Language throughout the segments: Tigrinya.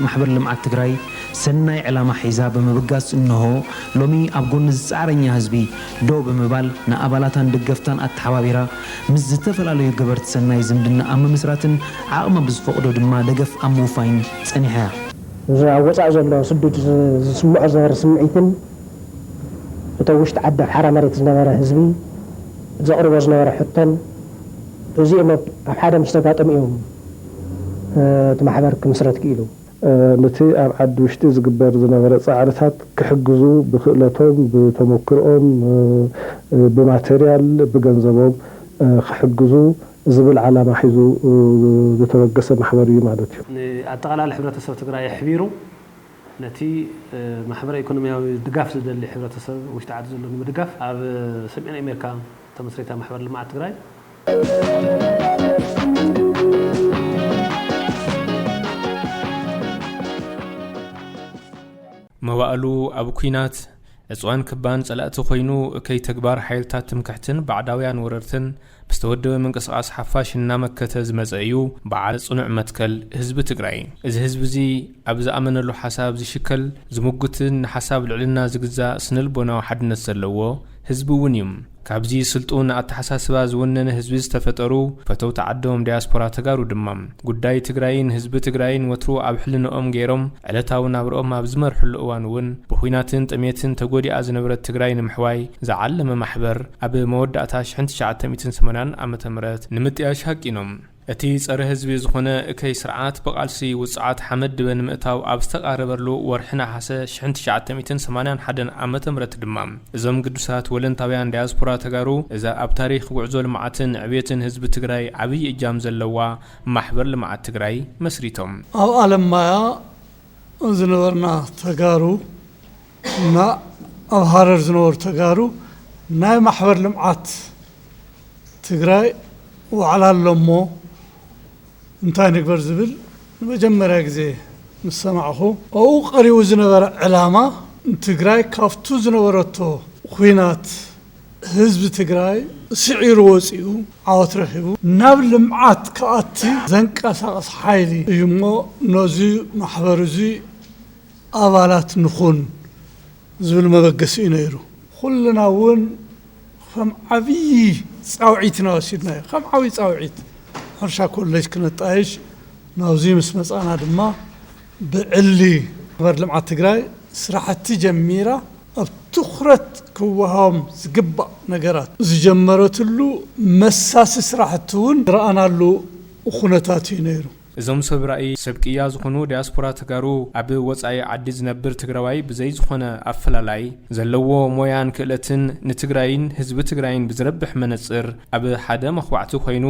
ማሕበር ልምዓት ትግራይ ሰናይ ዕላማ ሒዛ ብምብጋስ እነሆ ሎሚ ኣብ ጎኒ ዝፃዕረኛ ህዝቢ ደው ብምባል ንኣባላታን ደገፍታን ኣተሓባቢራ ምስ ዝተፈላለዩ ገበርቲ ሰናይ ዝምድና ኣብ ምምስራትን ዓቕማ ብዝፈቕዶ ድማ ደገፍ ኣብ ምውፋይን ፀኒሓ እያ። እዚ ኣብ ወፃኢ ዘሎ ስዱድ ዝስምዖ ዝነበረ ስምዒትን እቲ ኣብ ውሽጢ ዓዲ ኣብ ሓራ መሬት ዝነበረ ህዝቢ ዘቕርቦ ዝነበረ ሕቶን እዚኦም ኣብ ሓደ ምስ ተጋጠሙ እዮም፣ እቲ ማሕበር ክምስረት ክኢሉ። ነቲ ኣብ ዓዲ ውሽጢ ዝግበር ዝነበረ ፃዕርታት ክሕግዙ ብክእለቶም፣ ብተሞክርኦም፣ ብማተርያል፣ ብገንዘቦም ክሕግዙ ዝብል ዓላማ ሒዙ ዝተበገሰ ማሕበር እዩ ማለት እዩ። ንኣጠቓላሊ ሕብረተሰብ ትግራይ ኣሕቢሩ ነቲ ማሕበረ ኢኮኖሚያዊ ድጋፍ ዝደሊ ሕብረተሰብ ውሽጢ ዓዲ ዘሎ ንምድጋፍ ኣብ ሰሜን ኣሜርካ ተመስሪታ ማሕበር ልምዓት ትግራይ፣ መዋእሉ ኣብ ኩናት ዕፅዋን ክባን ፀላእቲ ኮይኑ እከይ ተግባር ሓይልታት ትምክሕትን ባዕዳውያን ወረርትን ብዝተወደበ ምንቅስቓስ ሓፋሽ እናመከተ ዝመፀ እዩ በዓል ፅኑዕ መትከል ህዝቢ ትግራይ እዚ ህዝቢ እዚ ኣብ ዝኣመነሉ ሓሳብ ዝሽከል ዝሙግትን ንሓሳብ ልዕልና ዝግዛእ ስነልቦናዊ ሓድነት ዘለዎ ህዝቢ እውን እዩ። ካብዚ ስልጡን ኣተሓሳስባ ዝወነነ ህዝቢ ዝተፈጠሩ ፈተውቲ ዓዶም ዳያስፖራ ተጋሩ ድማ፣ ጉዳይ ትግራይን ህዝቢ ትግራይን ወትሩ ኣብ ሕልንኦም ገይሮም ዕለታዊ ናብርኦም ኣብ ዝመርሕሉ እዋን እውን ብኹናትን ጥሜትን ተጎዲኣ ዝነበረት ትግራይ ንምሕዋይ ዝዓለመ ማሕበር ኣብ መወዳእታ ሽሕን ትሽዓተ ሚእትን ሰማንያን ዓመተ ምህረት ንምጥያሽ ሃቂኖም እቲ ጸረ ህዝቢ ዝኾነ እከይ ስርዓት ብቓልሲ ውጹዓት ሓመድ ድበ ንምእታው ኣብ ዝተቓረበሉ ወርሒ ነሓሰ ሽሕን ትሽዓተ ሚእትን ሰማንያን ሓደን ዓመተ ምህረት ድማ እዞም ግዱሳት ወለንታውያን ዳያስፖራ ተጋሩ እዛ ኣብ ታሪኽ ጉዕዞ ልምዓትን ዕብየትን ህዝቢ ትግራይ ዓብይ እጃም ዘለዋ ማሕበር ልምዓት ትግራይ መስሪቶም። ኣብ ኣለማያ ዝነበርና ተጋሩ እና ኣብ ሃረር ዝነበሩ ተጋሩ ናይ ማሕበር ልምዓት ትግራይ ዋዕላ ኣሎ እሞ እንታይ ንግበር ዝብል ንመጀመርያ ግዜ ምስ ሰማዕኹ፣ ኣብኡ ቀሪቡ ዝነበረ ዕላማ ንትግራይ ካብቱ ዝነበረቶ ኹናት፣ ህዝቢ ትግራይ ስዒሩ ወፂኡ ዓወት ረኺቡ ናብ ልምዓት ክኣቲ ዘንቀሳቕስ ሓይሊ እዩ እሞ ነዙ ማሕበር እዙይ ኣባላት ንኹን ዝብል መበገሲ እዩ ነይሩ። ኹልና እውን ኸም ዓብዪ ፃውዒት ኢና ወሲድናዮ። ከም ዓብዪ ፃውዒት ሕርሻ ኮሌጅ ክነጣይሽ ናብዙይ ምስ መፃእና ድማ ብዕሊ ማሕበር ልምዓት ትግራይ ስራሕቲ ጀሚራ። ኣብ ትኹረት ክወሃቦም ዝግባእ ነገራት ዝጀመረትሉ መሳሲ ስራሕቲ እውን ዝረኣናሉ ኹነታት እዩ ነይሩ። እዞም ሰብ ራኢ ሰብ ቅያ ዝኾኑ ዲያስፖራ ተጋሩ ኣብ ወፃኢ ዓዲ ዝነብር ትግራዋይ ብዘይ ዝኾነ ኣፈላላይ ዘለዎ ሞያን ክእለትን ንትግራይን ህዝቢ ትግራይን ብዝረብሕ መነፅር ኣብ ሓደ መኽባዕቲ ኮይኑ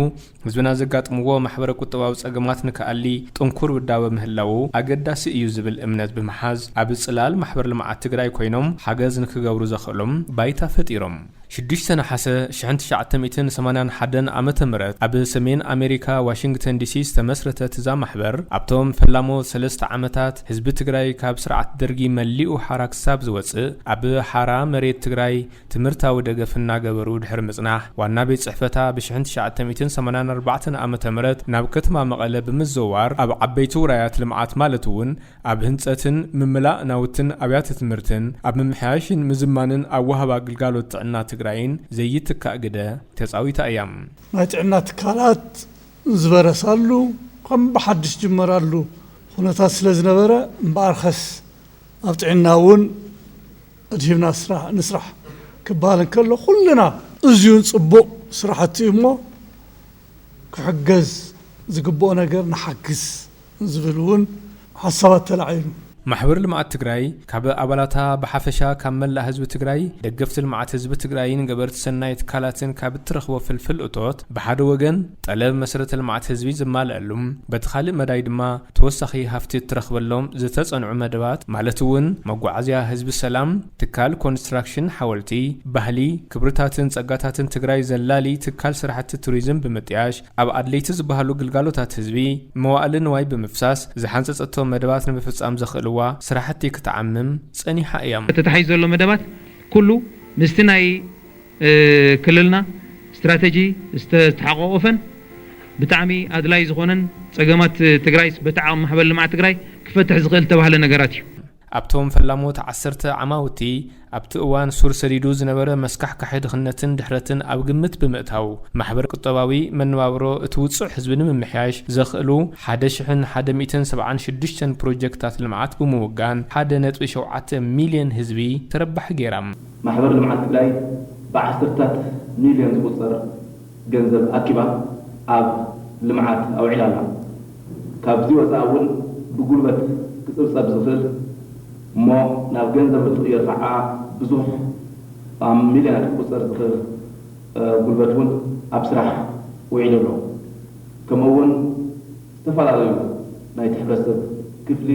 ህዝብና ዘጋጥምዎ ማሕበረ ቁጠባዊ ፀገማት ንክኣሊ ጥንኩር ውዳበ ምህላዉ ኣገዳሲ እዩ ዝብል እምነት ብምሓዝ ኣብ ፅላል ማሕበር ልምዓት ትግራይ ኮይኖም ሓገዝ ንክገብሩ ዘኽእሎም ባይታ ፈጢሮም ሽዱሽተ ነሓሰ ሽሕን ትሽዓተ ሚእትን ሰማንያን ሓደን ዓመተ ምህረት ኣብ ሰሜን ኣሜሪካ ዋሽንግተን ዲሲ ዝተመስረተት እዛ ማሕበር ኣብቶም ፈላሞት ሰለስተ ዓመታት ህዝቢ ትግራይ ካብ ስርዓት ደርጊ መሊኡ ሓራ ክሳብ ዝወፅእ ኣብ ሓራ መሬት ትግራይ ትምህርታዊ ደገፍ እናገበሩ ድሕሪ ምፅናሕ ዋና ቤት ፅሕፈታ ብ ሽሕን ትሽዓተ ሚእትን ሰማንያን ኣርባዕተን ዓመተ ምህረት ናብ ከተማ መቐለ ብምዘዋር ኣብ ዓበይቲ ውራያት ልምዓት ማለት እውን ኣብ ህንፀትን ምምላእ ናውትን ኣብያተ ትምህርትን ኣብ ምምሕያሽን ምዝማንን ኣወሃባ ግልጋሎት ጥዕና ትግራይን ዘይትካእ ግደ ተፃዊታ እያ። ናይ ጥዕና ትካላት ዝበረሳሉ ከም ብሓዱሽ ዝጅመራሉ ኹነታት ስለዝነበረ እምበኣርከስ ኣብ ጥዕና እውን፣ ኣድሂብና ስራሕ ንስራሕ ክበሃል እንከሎ ኩልና እዝዩ ጽቡቕ ስራሕቲ እዩ እሞ ክሕገዝ ዝግብኦ ነገር ንሓግዝ ዝብል እውን ሓሳባት ተላዒሉ። ማሕበር ልምዓት ትግራይ ካብ ኣባላታ ብሓፈሻ ካብ መላእ ህዝቢ ትግራይ፣ ደገፍቲ ልምዓት ህዝቢ ትግራይን ገበርቲ ሰናይ ትካላትን ካብ እትረኽቦ ፍልፍል እቶት ብሓደ ወገን፣ ጠለብ መሰረተ ልምዓት ህዝቢ ዝማለኣሉ፣ በቲ ካልእ መዳይ ድማ ተወሳኺ ሃፍቲ እትረኽበሎም ዝተፀንዑ መደባት ማለት እውን መጓዓዝያ ህዝቢ ሰላም፣ ትካል ኮንስትራክሽን ሓወልቲ፣ ባህሊ፣ ክብርታትን ፀጋታትን ትግራይ ዘላሊ ትካል ስራሕቲ ቱሪዝም ብምጥያሽ ኣብ ኣድለይቲ ዝበሃሉ ግልጋሎታት ህዝቢ መዋእለ ንዋይ ብምፍሳስ ዝሓንፀፀቶ መደባት ንምፍፃም ዘኽእልዋ ስራሕቲ ክትዓምም ፀኒሓ እያ። ተታሒዙ ዘሎ መደባት ኩሉ ምስቲ ናይ። ክልልና ስትራተጂ ዝተሓቆቆፈን ብጣዕሚ ኣድላይ ዝኾነን ፀገማት ትግራይስ በቲ ዓቅሚ ማሕበር ልምዓት ትግራይ ክፈትሕ ዝኽእል ዝተባህለ ነገራት እዩ። ኣብቶም ፈላሞት ዓሰርተ ዓማውቲ ኣብቲ እዋን ሱር ሰዲዱ ዝነበረ መስካሕካሒ ድኽነትን ድሕረትን ኣብ ግምት ብምእታው ማሕበር ቁጠባዊ መነባብሮ እቲ ውፁዕ ህዝቢ ንምምሕያሽ ዘኽእሉ ሓደ ሽሕን ሓደ ሚእትን ሰብዓን ሽዱሽተን ፕሮጀክትታት ልምዓት ብምውጋን ሓደ ነጥቢ ሸውዓተ ሚልየን ህዝቢ ተረባሒ ገይራ። ማሕበር ልምዓት ትግራይ ብዓሰርታት ሚልዮን ዝቑፀር ገንዘብ ኣኪባ ኣብ ልምዓት ኣውዒላ ኣላ። ካብዚ ወፃኢ እውን ብጉልበት ክፅብፀብ ዝኽእል እሞ ናብ ገንዘብ እንትቕየር ኸዓ ብዙሕ ብ ሚልዮናት ክቑፀር ዝኽእል ጉልበት እውን ኣብ ስራሕ ውዒሉ ኣሎ። ከምኡ እውን። ዝተፈላለዩ ናይቲ ሕብረተሰብ ክፍሊ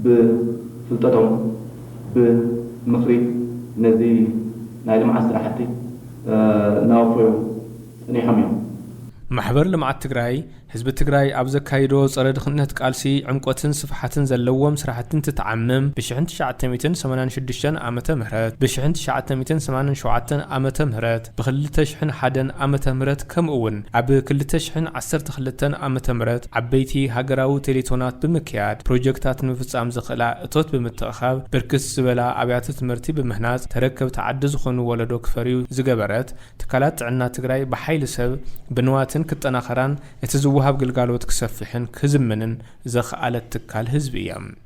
ብፍልጠቶም ብምኽሪ ነዚ ናይ ልምዓት ስራሕቲ እናወፈዩ ፀኒሖም እዮም። ማሕበር ልምዓት ትግራይ ህዝቢ ትግራይ ኣብ ዘካይዶ ፀረ ድኽነት ቃልሲ ዕምቆትን ስፍሓትን ዘለዎም ስራሕቲ እንትተዓምም ብ ሽሕን ትሽዓተ ሚእትን ሰማንያን ሽዱሽተን ዓመተ ምህረት ብ ሽሕን ትሽዓተ ሚእትን ሰማንያን ሸውዓተን ዓመተ ምህረት ብክልተ ሽሕን ሓደን ዓመተ ምህረት ከምኡ'ውን ኣብ ክልተ ሽሕን ዓሰርተ ክልተን ዓመተ ምህረት ዓበይቲ ሃገራዊ ቴሌቶናት ብምክያድ ፕሮጀክታት ንምፍፃም ዘኽእላ እቶት ብምትእኽኻብ ብርክት ዝበላ ኣብያተ ትምህርቲ ብምህናፅ ተረከብቲ ዓዲ ዝኾኑ ወለዶ ክፈርዩ ዝገበረት ትካላት ጥዕና ትግራይ ብሓይሊ ሰብ ብንዋትን ክጠናኸራን እቲ ዝወሃብ ግልጋሎት ክሰፍሕን ክዝምንን ዘኽኣለት ትካል ህዝቢ እያ።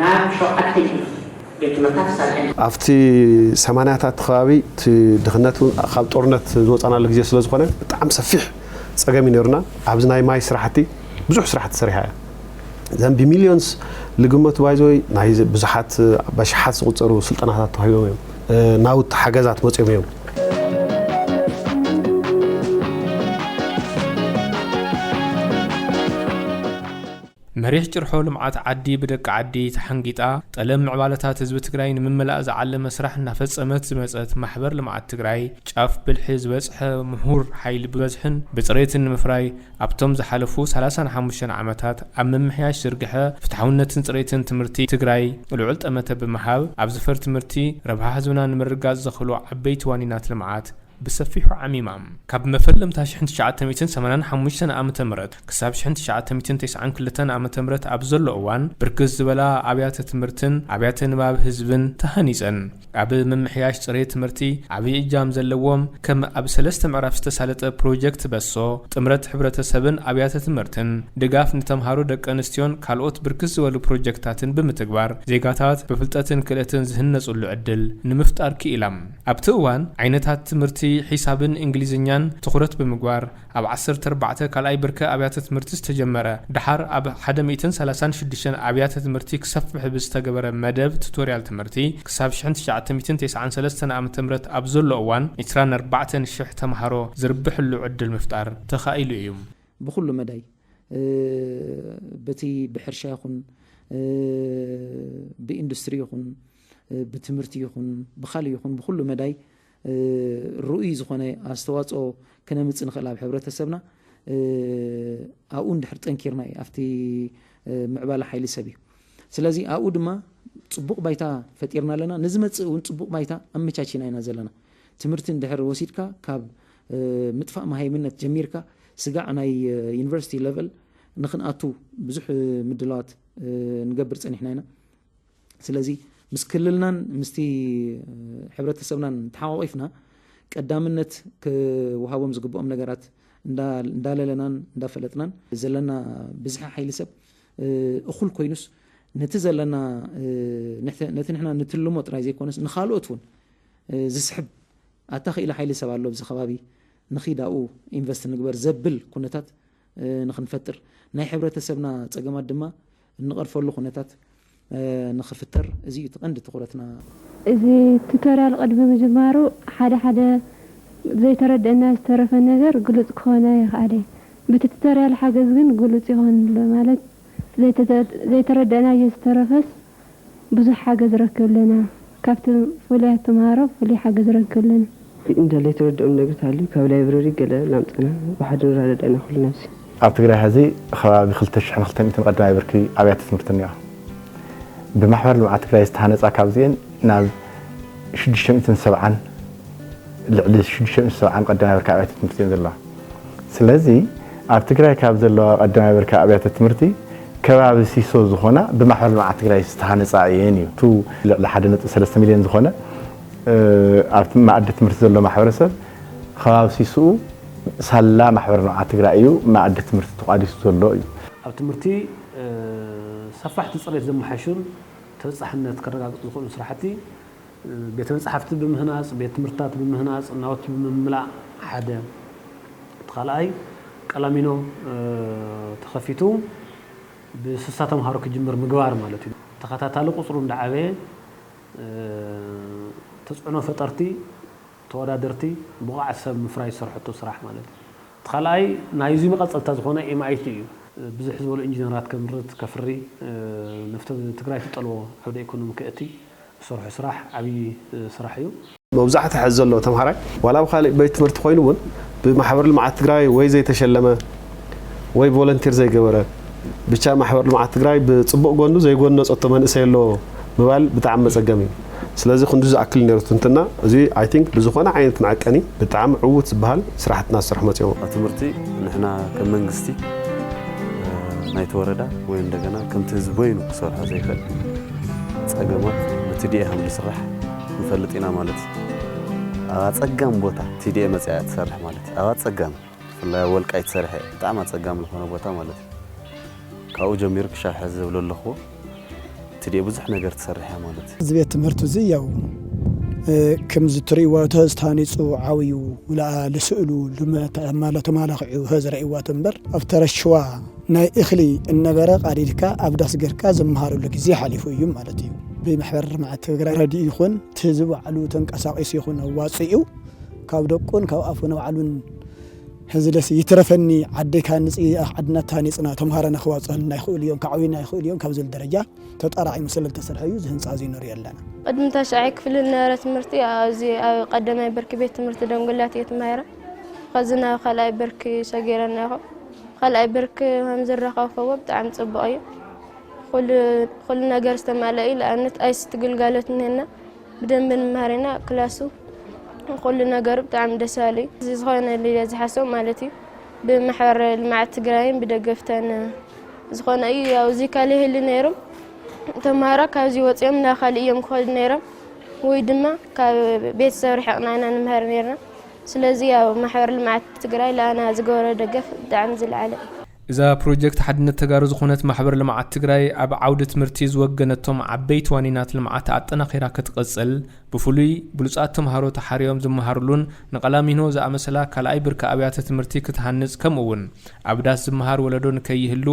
ናብ ሸውዓተ ይኹና ቤት ትምህርታት ተሰሪሐን። ኣብቲ ሰማንያታት ከባቢ እቲ ድኽነት እውን ካብ ጦርነት ዝወፃእናሉ ግዜ ስለ ዝኾነ ብጣዕሚ ሰፊሕ ፀገም እዩ ነይሩና። ኣብዚ ናይ ማይ ስራሕቲ ብዙሕ ስራሕ ተሰሪሓ እያ። እዘን ብሚልዮንስ ልግመቱ ባይ ዘ ዌይ ናይ ብዙሓት በሽሓት ዝቑፀሩ ስልጠናታት ተዋሂቦም እዮም። ናውቲ ሓገዛት መፂኦም እዮም። መሪሕ ጭርሖ ልምዓት ዓዲ ብደቂ ዓዲ ተሓንጊጣ ጠለብ ምዕባለታት ህዝቢ ትግራይ ንምምላእ ዝዓለመ ስራሕ እናፈፀመት ዝመፀት ማሕበር ልምዓት ትግራይ ጫፍ ብልሒ ዝበፅሐ ሙሁር ሓይሊ ብበዝሕን ብፅሬትን ንምፍራይ ኣብቶም ዝሓለፉ ሰላሳን ሓሙሽተን ዓመታት ኣብ ምምሕያሽ ዝርግሐ ፍትሓውነትን ፅሬትን ትምህርቲ ትግራይ ልዑል ጠመተ ብምሃብ ኣብ ዘፈር ትምህርቲ ረብሓ ህዝብና ንምርግጋፅ ዘኽእሉ ዓበይቲ ዋኒናት ልምዓት ብሰፊሑ ዓሚማ። ካብ መፈለምታ ሽሕን ትሽዓተ ሚእትን ሰማንያን ሓሙሽተን ዓመተ ምህረት ክሳብ ሽሕን ትሽዓተ ሚእትን ተስዓን ክልተን ዓመተ ምህረት ኣብ ዘሎ እዋን ብርክት ዝበላ ኣብያተ ትምህርትን ኣብያተ ንባብ ህዝብን ተሃኒፀን። ኣብ ምምሕያሽ ፅሬት ትምህርቲ ዓብዪ እጃም ዘለዎም ከም ኣብ ሰለስተ ምዕራፍ ዝተሳለጠ ፕሮጀክት በሶ፣ ጥምረት ሕብረተሰብን ኣብያተ ትምህርትን፣ ድጋፍ ንተምሃሮ ደቂ ኣንስትዮን ካልኦት ብርክት ዝበሉ ፕሮጀክታትን ብምትግባር ዜጋታት ብፍልጠትን ክእለትን ዝህነፁሉ ዕድል ንምፍጣር ክኢላ። ኣብቲ እዋን ዓይነታት ትምህርቲ ሒሳብን እንግሊዝኛን ትኹረት ብምግባር ኣብ ዓሰርተ ኣርባዕተ ካልኣይ ብርኪ ኣብያተ ትምህርቲ ዝተጀመረ ደሓር ኣብ ሓደ ሚእትን ሰላሳን ሽዱሽተን ኣብያተ ትምህርቲ ክሰፍሕ ብዝተገበረ መደብ ቱቶርያል ትምህርቲ ክሳብ ሽሕን ትሽዓተ ሚእትን ተስዓን ሰለስተን ዓመተ ምህረት ኣብ ዘሎ እዋን ዕስራን ኣርባዕተን ሽሕ ተምሃሮ ዝርብሕሉ ዕድል ምፍጣር ተኻኢሉ እዩ። ብኹሉ መዳይ በቲ ብሕርሻ ይኹን ብኢንዱስትሪ ይኹን፣ ብትምህርቲ ይኹን ብኻልእ ይኹን ብኹሉ መዳይ ርኡይ ዝኾነ ኣስተዋፅኦ ክነምፅእ ንኽእል ኣብ ሕብረተሰብና ኣብኡ እንድሕር ጠንኪርና እዩ ኣብቲ ምዕባለ ሓይሊ ሰብ እዩ ስለዚ ኣብኡ ድማ ፅቡቕ ባይታ ፈጢርና ኣለና ንዝመፅእ እውን ፅቡቕ ባይታ ኣመቻችና ኢና ዘለና ትምህርቲ እንድሕር ወሲድካ ካብ ምጥፋእ መሃይምነት ጀሚርካ ስጋዕ ናይ ዩኒቨርሲቲ ለቨል ንክንኣቱ ብዙሕ ምድላዋት ንገብር ፀኒሕና ኢና ስለዚ ምስ ክልልናን ምስቲ ሕብረተሰብናን ተሓቋቒፍና ቀዳምነት ክወሃቦም ዝግብኦም ነገራት እንዳለለናን እንዳፈለጥናን ዘለና ብዝሒ ሓይሊ ሰብ እኹል ኮይኑስ ነቲ ዘለና ነቲ ንሕና ንትልሞ ጥራይ ዘይኮነስ ንካልኦት እውን ዝስሕብ ኣታ ክኢላ ሓይሊ ሰብ ኣሎ ኣብዚ ከባቢ ንኺድ ኣብኡ ኢንቨስት ንግበር ዘብል ኩነታት ንክንፈጥር ናይ ሕብረተሰብና ፀገማት ድማ እንቐርፈሉ ኩነታት ንክፍተር እዚ እዩ እቲ ቀንዲ ትኹረትና። እዚ ቱቶርያል ቕድሚ ምጅማሩ ሓደ ሓደ ዘይተረደኣና ዝተረፈ ነገር ግሉፅ ክኾን ኣይኽኣለይ ብቲ ቱቶርያል ሓገዝ ግን ግሉፅ ይኾን ኣሎ ማለት ዘይተረደኣናዮ ዝተረፈስ ብዙሕ ሓገዝ ረክብ ኣለና ካብቲ ፍሉያት ተማሃሮ ፍሉይ ሓገዝ ረክብ ኣለና። እንደልይ ትርድኦም ነግሪ ተሃልዩ ካብ ላይብረሪ ገለ እናምጸና ብሓደ ንረዳዳእ ኢና ኩልና ኣብዚ። ኣብ ትግራይ ሐዚ ኸባቢ ክልተ ሽሕን ክልተ ሚእትን ቐዳማይ ብርኪ ኣብያተ ትምህርቲ እኒኦ። ብማሕበር ልምዓት ትግራይ ዝተሃነፃ ካብዚኤን ናብ ሽዱሽተ ሚእትን ሰብዓን ልዕሊ ሽዱሽተ ሚእትን ሰብዓን ቐዳማይ ብርኪ ኣብያተ ትምህርቲ እየን ዘለዋ። ስለዚ ኣብ ትግራይ ካብ ዘለዋ ቀዳማይ ብርኪ ኣብያተ ትምህርቲ ከባቢ ሲሶ ዝኾና ብማሕበር ልምዓት ትግራይ ዝተሃነፃ እየን እዩ። እቲ ልዕሊ ሓደ ነጥቢ ሰለስተ ሚሊየን ዝኾነ ኣብ መኣዲ ትምህርቲ ዘሎ ማሕበረሰብ ኸባቢ ሲስኡ ሳላ ማሕበር ልምዓት ትግራይ እዩ መኣዲ ትምህርቲ ተቋዲሱ ዘሎ እዩ። ኣብ ትምህርቲ ሰፋሕቲ ፅሬት ዘመሓይሹን ተበፃሕነት ከረጋግፁ ዝኽእሉን ስራሕቲ ቤተ መጻሕፍቲ ብምህናጽ፣ ቤት ትምህርትታት ብምህናጽ፣ ናውቲ ብምምላእ ሓደ። እቲ ካልኣይ ቀላሚኖ ተኸፊቱ ብስሳ ተምሃሮ ክጅምር ምግባር ማለት እዩ። ተኸታታሊ ቁጽሩ እንዳዓበየ ተጽዕኖ ፈጠርቲ፣ ተወዳደርቲ፣ ብቑዓት ሰብ ምፍራይ ዝሰርሐቶ ስራሕ ማለት እዩ። እቲ ካልኣይ ናይዚ መቐጸልታ ዝኾነ MIT እዩ። ብዝሕ ዝበሉ ኢንጂነራት ከምርት፣ ከፍሪ፣ ነፍቲ ትግራይ ትጠልቦ ዓውደ ኢኮኖሚ ከእቲ፣ ትሰርሖ ስራሕ ዓብዪ ስራሕ እዩ። መብዛሕትኡ ሕዚ ዘሎ ተምሃራይ ዋላ ኣብ ኻሊእ ቤት ትምህርቲ ኾይኑ እውን ብማሕበር ልምዓት ትግራይ ወይ ዘይተሸለመ ወይ ቮለንቲር ዘይገበረ ብቻ ማሕበር ልምዓት ትግራይ ብፅቡቕ ጎኑ ዘይጎነፀቶ መንእሰይ ኣሎ ምባል ብጣዕሚ መፀገሚ እዩ። ስለዚ ክንዱ ዝኣክል ነይሩ ትንትና እዚ ኣይ ቲንክ ብዝኾነ ዓይነት መዐቀኒ ብጣዕሚ ዕውት ዝበሃል ስራሕቲ እናተሰርሑ መፂኦም። ኣብ ትምህርቲ ንሕና ከም መንግስቲ ናይቲ ወረዳ ወይ እንደገና ከምቲ ህዝቢ በይኑ ክሰርሖ ዘይኽእል ጸገማት ብቲዲኤ ከም ዝስራሕ ንፈልጥ ኢና ማለት እዩ። ኣብ ኣጸጋሚ ቦታ ቲዲኤ መጺኣ እያ ትሰርሕ ማለት እዩ። ኣብ ኣጸጋሚ ብፍላይ ኣብ ወልቃይት ሰሪሐ እየ ብጣዕሚ ኣጸጋሚ ዝኾነ ቦታ ማለት እዩ። ካብኡ ጀሚሩ ክሻብ ሕዚ ዝብሎ ኣለኹዎ ቲዲኤ ብዙሕ ነገር ትሰርሕ እያ ማለት እዩ። እዚ ቤት ትምህርት እዚ ያው ክምዚ ትርእይዎ ተዝ ታሃኒጹ ዓብዩ ምልኣ ልስእሉ ልመ ተማላኺዑ ተዝ ረእይዋ ተንበር ኣብ ተረሽዋ ናይ እኽሊ እነበረ ቃዲድካ ኣብ ዳስ ገርካ ዝመሃረሉ ግዜ ሓሊፉ እዩ ማለት እዩ። ብማሕበር ልምዓት ትግራይ ረድኢ ይኹን እቲ ህዝቢ ባዕሉ ተንቀሳቂሱ ይኹን ኣዋፂኡ ካብ ደቁን ካብ ኣፉን ባዕሉን ህዝለስ ይትረፈኒ ዓደይ ክሃንፅ እዩ ዓድና ተሃኒፅና ተምሃሮና ክዋፅኡልና ይኽእሉ እዮም ከዕብዩና ይኽእሉ እዮም ካብ ዝብል ደረጃ ተጣራዒሙ ስለልተሰርሐ እዩ እዚ ህንፃ እዙይ ንሪኦ ኣለና። ቅድሚ ታሽዓይ ክፍሊ ዝነበረ ትምህርቲ ኣብዚ ኣብ ቀዳማይ ብርኪ ቤት ትምህርቲ ደንጉላት እየ ተማሂረ። ኸዚ ናብ ኻልኣይ ብርኪ ሰጊረናኹ። ኻልኣይ ብርኪ ከምዝረኸብ ከቦ ብጣዕሚ ፅቡቕ እዩ ኩሉ ነገር ዝተማለእ እዩ ንኣብነት ኣይሲቲ ግልጋሎት እኒሀና ብደንቢ ንመሃር ኢና ክላሱ ኩሉ ነገሩ ብጣዕሚ ደስ በሃሊ እዩ እዚ ዝኾነሉ እየ ዝሓስቦ ማለት እዩ ብማሕበር ልምዓት ትግራይን ብደገፍተን ዝኾነ እዩ ያው እዚ ካል ይህሉ ነይሩ ተምሃሮ ካብዚ ወፂኦም ናብ ካልእ እዮም ክኸዱ ነይሮም ወይ ድማ ካብ ቤተሰብ ርሕቕና ኢና ንምህር ነይርና ስለዚ ያው ማሕበር ልምዓት ትግራይ ልኣና ዝገበሮ ደገፍ ብጣዕሚ ዝለዓለ እዩ። እዛ ፕሮጀክት ሓድነት ተጋሩ ዝኾነት ማሕበር ልምዓት ትግራይ ኣብ ዓውዲ ትምህርቲ ዝወገነቶም ዓበይቲ ዋኒናት ልምዓት ኣጠናኺራ ክትቕፅል ብፍሉይ ብሉፃት ተምሃሮ ተሓርዮም ዝመሃርሉን ንቀላሚኖ ዝኣመሰላ ካልኣይ ብርኪ ኣብያተ ትምህርቲ ክትሃንፅ ከምኡ እውን ኣብ ዳስ ዝመሃር ወለዶ ንከይህሉ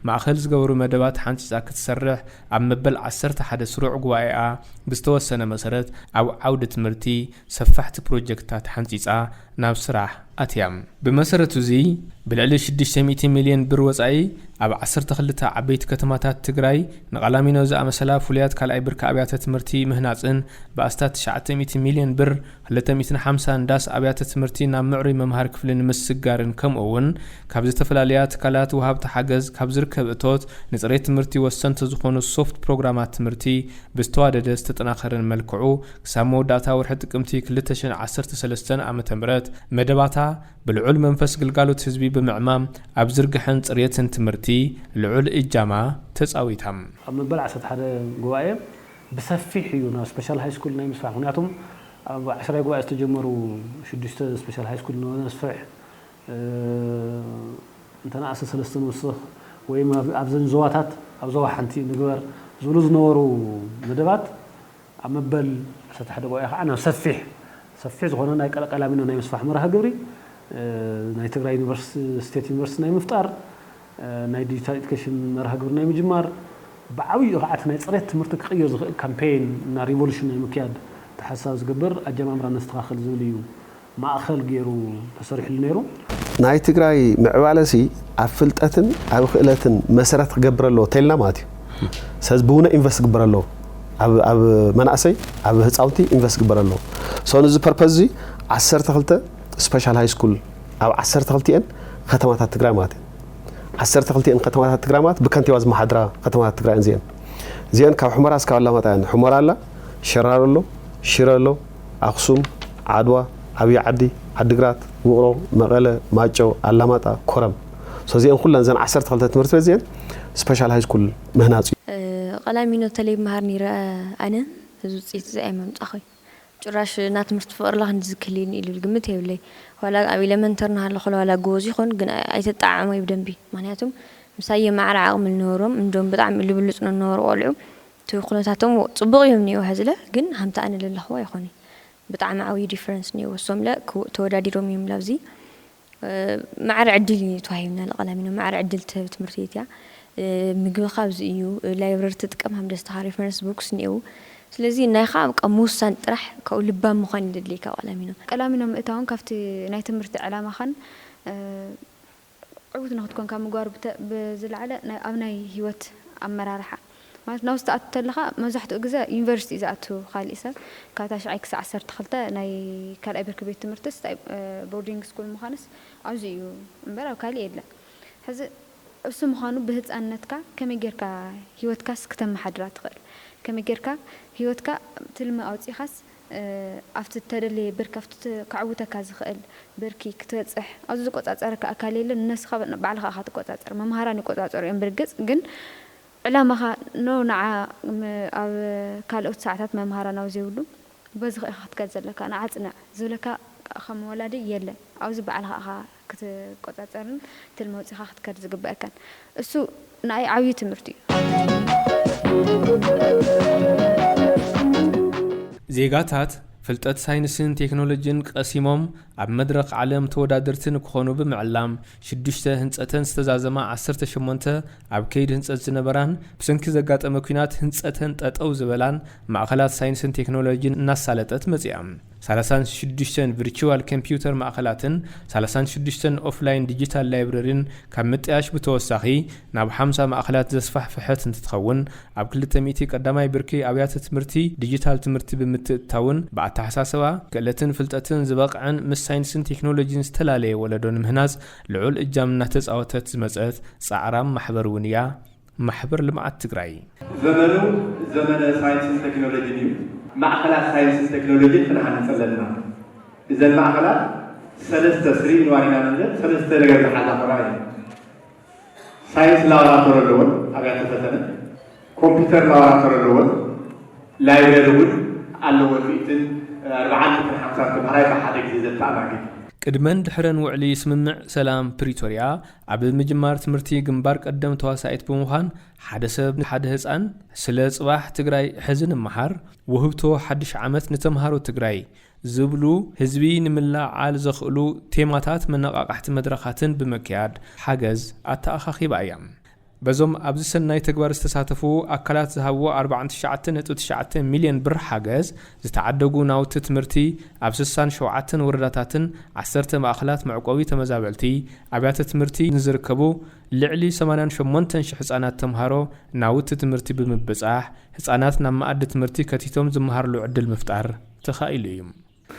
ማእኸል ዝገበሩ መደባት ሓንፂፃ ክትሰርሕ ኣብ መበል ዓሰርተ ሓደ ስሩዕ ጉባኤኣ ብዝተወሰነ መሰረት ኣብ ዓውዲ ትምህርቲ ሰፋሕቲ ፕሮጀክትታት ሓንጺጻ ናብ ስራሕ ኣትያ። ብመሰረት'ዚ ብልዕሊ ሽዱሽተ ሚእቲ ሚልዮን ብር ወጻኢ ኣብ ዓሰርተ ክልተ ዓበይቲ ከተማታት ትግራይ ንቓላሚኖ ዝኣመሰላ ፍሉያት ካልኣይ ብርኪ ኣብያተ ትምህርቲ ምህናጽን ብኣስታት ትሽዓተ ሚእቲ ሚልዮን ብር ክልተ ሚእትን ሓምሳን ዳስ ኣብያተ ትምህርቲ ናብ ምዕሩይ መምሃሪ ክፍሊ ንምስግጋርን ከምኡ'ውን ካብ ዝተፈላለያ ትካላት ወሃብቲ ሓገዝ ካብ ዝርከብ እቶት ንጽሬት ትምህርቲ ወሰንቲ ዝኾኑ ሶፍት ፕሮግራማት ትምህርቲ ብዝተዋደደ ዝተጠናኸረን መልክዑ ክሳብ መወዳእታ ወርሒ ጥቅምቲ ክልተ ሽሕ ዓሰርተ ሰለስተ ዓመተ ምህረት መደባታ ብልዑል መንፈስ ግልጋሎት ህዝቢ ብምዕማም ኣብ ዝርግሐን ፅርየትን ትምህርቲ ልዑል እጃማ ተፃዊታ። ኣብ መበል ዓሰርተ ሓደ ጉባኤ ብሰፊሕ እዩ ናብ ስፐሻል ሃይስኩል ናይ ምስፋሕ ምኽንያቱም ኣብ ዓሽራይ ጉባኤ ዝተጀመሩ ሽዱሽተ ስፐሻል ሃይስኩል ነስፍሕ እንተነኣሰ ሰለስተ ንውስኽ ወይም ኣብዘን ዞባታት ኣብ ዞባ ሓንቲ ንግበር ዝብሉ ዝነበሩ መደባት ኣብ መበል ዓሰርተ ሓደ ጉባኤ ከዓ ናብ ሰፊሕ ሰፊሕ ዝኾነ ናይ ቀላሚኖ ናይ ምስፋሕ መርሃ ግብሪ ናይ ትግራይ ዩኒቨርስቲ ስቴት ዩኒቨርስቲ ናይ ምፍጣር ናይ ዲጂታል ኤዱኬሽን መርሃ ግብሪ ናይ ምጅማር ብዓብይኡ ከዓ እቲ ናይ ፅሬት ትምህርቲ ክቕይር ዝኽእል ካምፔይን እና ሪቮሉሽን ናይ ምክያድ ተሓሳቢ ዝገብር ኣጀማምራ ነስተኻኽል ዝብል እዩ ማእኸል ገይሩ ተሰሪሕሉ ነይሩ። ናይ ትግራይ ምዕባለሲ ኣብ ፍልጠትን ኣብ ክእለትን መሰረት ክገብር ኣለዎ ተይልና ማለት እዩ። ስለዚ ብውነ ኢንቨስት ክግበር ኣለዎ። ኣብ ኣብ መናእሰይ ኣብ ህፃውንቲ ኢንቨስት ክግበር ኣለዎ። ሶ ንዚ ፐርፐዝ እዚ ዓሰርተ ክልተ ስፔሻል ሃይ ስኩል ኣብ ዓሰርተ ክልቲኤን ከተማታት ትግራይ ማለት እዩ። ዓሰርተ ክልቲኤን ከተማታት ትግራይ ማለት ብከንቲባ ዝመሓድራ ከተማታት ትግራይ እየን። እዚኤን እዚኤን ካብ ሑመራ እስካብ ኣላማጣ እየን። ሑመራ ኣላ፣ ሸራሮ ኣሎ፣ ሽረ ኣሎ፣ ኣኽሱም፣ ዓድዋ፣ ዓብዪ ዓዲ፣ ዓዲግራት፣ ውቕሮ፣ መቐለ፣ ማይጨው፣ ኣላማጣ፣ ኮረም። ሶዚኤን ኩለን እዘን ዓሰርተ ክልተ ትምህርት ቤት እዚኤን ስፐሻል ሃይስኩል ምህናፅ እዩ። ቐላሚኖ ተለይ እምሃር ነይረ ኣነ እዚ ውፅኢት እዚ ኣይመምፃኹይ ጭራሽ እና ትምህርቲ ፍቅርላ ክንድዚ ክህልየኒ ኢሉ ግምት የብለይ ዋላ ኣብ ኢለመንተር ናሃለኹ ከላ ዋላ ጎቦዝ ይኹን ግን ኣይተጣዓዓሞይ ብደንቢ ምክንያቱም ምሳይ የማዕረ ዓቅሚ ልነበሮም እንዶም ብጣዕሚ ልብሉፅ ንነበሩ ቆልዑ እቲ ኩነታቶም ጽቡቅ እዮም ኒኦ ሀዝለ ግን ሀምቲ ኣነ ለለክዎ ኣይኮነይ ብጣዕሚ ዓውይ ዲፈረንስ ኒኦ ወሶምለ ክውእ ተወዳዲሮም እዮም ላብዚ ማዕረ ዕድል እዩ ተዋሂብና ለቀላሚኖ ማዕረ ዕድል ትህብ ትምህርት ቤት እያ ምግብካ ኣብዚ እዩ ላይብረሪ ትጥቀም ሀምደስታካ ሪፈረንስ ቡክስ ኒኤው ስለዚ ናይካ በቃ ምውሳን ጥራሕ ካብኡ ልባም ምኳን እዩ ለድልየካ ቀላሚኖ። ቀላሚኖ ምእታውን ካብቲ ናይ ትምህርቲ ዕላማካን። ዕውት ንክትኮን ካብ ምግባሩ ብዝለዓለ ኣብ ናይ ሂወት ኣመራርሓ ማለት ናብዚ ትኣቱ ተለኻ መብዛሕትኡ ግዘ ዩኒቨርሲቲ እዩ ዝኣቱ ካሊእ ሰብ ካብ ታሽዓይ ክሳዕ ዓሰርተ ክልተ ናይ ካልኣይ ብርኪ ቤት ትምህርትስ ቦርዲንግ ስኩል ምዃንስ ኣብዚ እዩ እምበር ኣብ ካሊእ የለን ሕዚ እሱ ምዃኑ ብህፃንነትካ ከመይ ጌርካ ሂወትካስ ክተመሓድራ ትኽእል ከመይ ጌርካ ሂወትካ ትልሚ ኣውፂእኻስ ኣብቲ እተደለየ ብርኪ፣ ኣብቲ ከዕውተካ ዝኽእል ብርኪ ክትበጽሕ፣ ኣብዚ ዝቆጻጸረካ ኣካል የለን፣ ንነብስኻ ባዕልኻ ኢኻ ትቆጻጸር፣ መምሃራን ይቆጻጸሩ እዮም ብርግጽ ግን ዕላማኻ ን ንዓ ኣብ ካልኦት ሰዓታት መምሃራን ኣብ ዘይብሉ በዚ ኢኻ ክትከድ ዘለካ፣ ንዓ ጽናዕ ዝብለካ ከም ወላዲ የለን፣ ኣብዚ ባዕልኻ ኢኻ። ክትቆጻጸርን ትልሚ ኣውጺኻ ክትከድ ዝግበኣካን እሱ ንኣይ ዓብዩ ትምህርቲ እዩ። ዜጋታት ፍልጠት ሳይንስን ቴክኖሎጂን ቐሲሞም ኣብ መድረኽ ዓለም ተወዳደርቲ ንክኾኑ ብምዕላም ሽዱሽተ ህንፀተን ዝተዛዘማ ዓሰርተ ሸሞንተ ኣብ ከይዲ ህንፀት ዝነበራን ብሰንኪ ዘጋጠመ ኲናት ህንፀተን ጠጠው ዝበላን ማእኸላት ሳይንስን ቴክኖሎጂን እናሳለጠት መፂኣ። ሳላሳን ሽዱሽተን ቭርችዋል ከምፒዩተር ማእኸላትን ሳላሳን ሽዱሽተን ኦፍላይን ዲጂታል ላይብረሪን ካብ ምጥያሽ ብተወሳኺ ናብ ሓምሳ ማእኸላት ዘስፋሕፍሐት እንትትኸውን ኣብ ክልተ ሚእቲ ቀዳማይ ብርኪ ኣብያተ ትምህርቲ ዲጂታል ትምህርቲ ብምትእትታውን ብኣተሓሳስባ፣ ክእለትን ፍልጠትን ዝበቕዐን ምስ ሳይንስን ቴክኖሎጂን ዝተላለየ ወለዶ ንምህናፅ ልዑል እጃም እናተፃወተት ዝመፀት ፃዕራም ማሕበር እውን እያ። ማሕበር ልምዓት ትግራይ። ዘመኑ ዘመነ ሳይንስን ቴክኖሎጂን እዩ። ማእኸላት ሳይንስን ቴክኖሎጂን ክንሃንፅ ኣለና። እዘን ማእኸላት ሰለስተ ስሪ ንዋሪና ንብለን ሰለስተ ነገር ዝሓዛ ክኾና እየን። ሳይንስ ላቦራቶሪ ኣለወን፣ ኣብያተ ፈተነ፣ ኮምፒተር ላቦራቶሪ ኣለወን፣ ላይብረሪ እውን ኣለወን፣ ሚእትን ኣርብዓን ሚእትን ሓምሳን ተምሃራይ ብሓደ ግዜ ዘተኣናግድ። ቅድመን ድሕረን ውዕሊ ስምምዕ ሰላም ፕሪቶሪያ ኣብ ምጅማር ትምህርቲ ግንባር ቀደም ተዋሳኢት ብምዃን ሓደ ሰብ ንሓደ ህፃን ስለ ፅባሕ ትግራይ ሕዚ ንመሃር፣ ውህብቶ ሓድሽ ዓመት ንተምሃሮ ትግራይ ዝብሉ ህዝቢ ንምልዕዓል ዘኽእሉ ቴማታት መነቓቓሕቲ መድረኻትን ብምክያድ ሓገዝ ኣተኣኻኺባ እያ። በዞም ኣብዚ ሰናይ ተግባር ዝተሳተፉ ኣካላት ዝሃብዎ ኣርብዓን ትሽዓተን ነጥቢ ትሽዓተ ሚልዮን ብር ሓገዝ ዝተዓደጉ ናውቲ ትምህርቲ ኣብ ስሳን ሸውዓተን ወረዳታትን ዓሰርተ ማእኸላት መዕቆቢ ተመዛበልቲ ኣብያተ ትምህርቲ ንዝርከቡ ልዕሊ ሰማንያን ሸሞንተን ሽሕ ህፃናት ተምሃሮ ናውቲ ትምህርቲ ብምብፃሕ ህፃናት ናብ መኣዲ ትምህርቲ ከቲቶም ዝመሃርሉ ዕድል ምፍጣር ተኻኢሉ እዩ።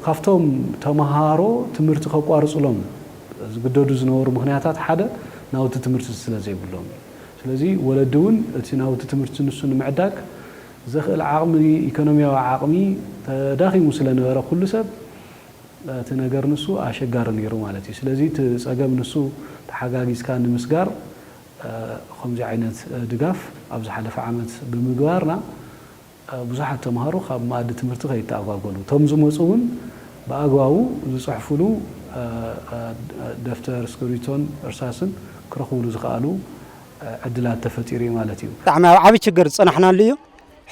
ካብቶም ተመሃሮ ትምህርቲ ከቋርጹሎም ዝግደዱ ዝነበሩ ምኽንያታት ሓደ ናውቲ ትምህርቲ ስለ ዘይብሎም እዩ። ስለዚ ወለዲ እውን እቲ ናውቲ ትምህርቲ ንሱ ንምዕዳግ ዘኽእል ዓቕሚ ኢኮኖሚያዊ ዓቕሚ ተዳኺሙ ስለ ነበረ ኩሉ ሰብ እቲ ነገር ንሱ ኣሸጋሪ ነይሩ ማለት እዩ። ስለዚ እቲ ጸገም ንሱ ተሓጋጊዝካ ንምስጋር ኸምዚ ዓይነት ድጋፍ ኣብ ዝሓለፈ ዓመት ብምግባርና ብዙሓት ተምሃሮ ካብ መኣዲ ትምህርቲ ከይተኣጓጎሉ፣ እቶም ዝመጹ እውን ብኣግባቡ ዝጽሕፉሉ ደፍተር፣ እስክርቢቶን እርሳስን ክረኽቡሉ ዝኸኣሉ ዕድላት ተፈጢሩ እዩ ማለት እዩ። ብጣዕሚ ኣብ ዓብይ ችግር ዝፀናሕናሉ እዩ።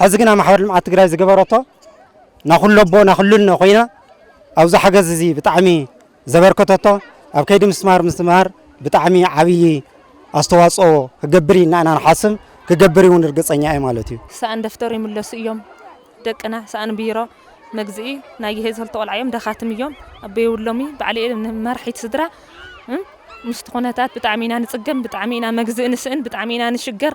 ሐዚ ግና ማሕበር ልምዓት ትግራይ ዝገበረቶ ናኹለቦ ናኹልነ ኮይና ኣብዚ ሓገዝ እዚ ብጣዕሚ ዘበርከተቶ ኣብ ከይዲ ምስትምሃር ምስትምሃር ብጣዕሚ ዓብዪ ኣስተዋፅኦ ክገብር ኢና ኢና ንሓስብ ክገብር እውን እርግፀኛ እየ ማለት እዩ። ሰኣን ደፍተር ይምለሱ እዮም ደቅና ሰኣን ቢሮ መግዝኢ ናይ ይሄ ዝክልተ ቆልዓ እዮም ደኻትም እዮም ኣበየብሎሚ ባዕለ መራሒት ስድራ ምስቲ ኩነታት ብጣዕሚ ኢና ንፅገም ብጣዕሚ ኢና መግዝኢ ንስእን ብጣዕሚ ኢና ንሽገር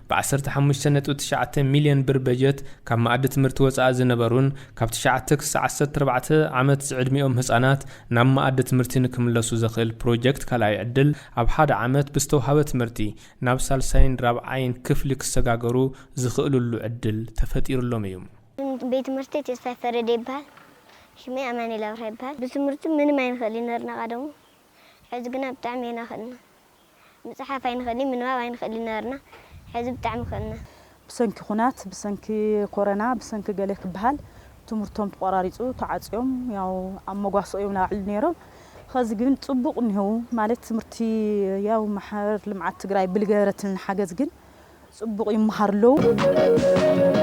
ብ ዓሰርተ ሓሙሽተ ነጥቢ ትሽዓተ ሚልዮን ብር በጀት ካብ መኣዲ ትምህርቲ ወፃኢ ዝነበሩን ካብ ትሽዓተ ክሳዕ ዓሰርተ ኣርባዕተ ዓመት ዝዕድሚኦም ህፃናት ናብ መኣዲ ትምህርቲ ንክምለሱ ዘኽእል ፕሮጀክት ካልኣይ ዕድል ኣብ ሓደ ዓመት ብዝተውሃበ ትምህርቲ ናብ ሳልሳይን ራብዓይን ክፍሊ ክሰጋገሩ ዝኽእልሉ ዕድል ተፈጢሩሎም እዩ። ቤት ትምህርተይ ተስፋይ ፈረደ ይበሃል ሽመይ ኣማኒኤል ኣብርሃ ይበሃል ብትምህርቲ ምንም ኣይንኽእልን ኔርና ቐደሙ ሕዚ ግና ብጣዕሚ ኢና ኽእልና። ምጽሓፍ ኣይንክእልይ ምንባብ ኣይንክእልይ ነበርና ሕዚ ብጣዕሚ ክእልና። ብሰንኪ ኩናት ብሰንኪ ኮረና ብሰንኪ ገለ ክበሃል ትምህርቶም ተቆራሪጹ ተዓጽዮም ያው ኣብ መጓሰኦ እዮም ናብዕሉ ኔሮም ኸዚ ግን ጽቡቅ እኒሀው ማለት ትምህርቲ ያው ማሕበር ልምዓት ትግራይ ብልገበረትልና ሓገዝ ግን ጽቡቕ ይመሃሩ ኣለዉ።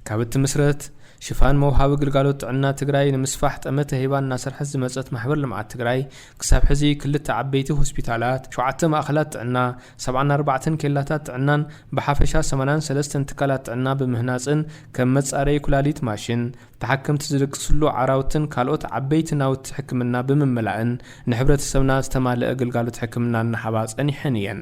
ካብ እትምስረት ሽፋን መውሃቢ ግልጋሎት ጥዕና ትግራይ ንምስፋሕ ጠመተ ሂባ እናሰርሐት ዝመፀት ማሕበር ልምዓት ትግራይ ክሳብ ሕዚ ክልተ ዓበይቲ ሆስፒታላት፣ ሸውዓተ ማእኸላት ጥዕና፣ ሰብዓን ኣርባዕተን ኬላታት ጥዕናን ብሓፈሻ ሰማንያን ሰለስተን ትካላት ጥዕና ብምህናፅን ከም መፃረዪ ኩላሊት ማሽን፣ ተሓከምቲ ዝድቅስሉ ዓራውትን ካልኦት ዓበይቲ ናውቲ ሕክምና ብምምላእን ንሕብረተሰብና ዝተማለኣ ግልጋሎት ሕክምና እናሃባ ፀኒሐን እየን።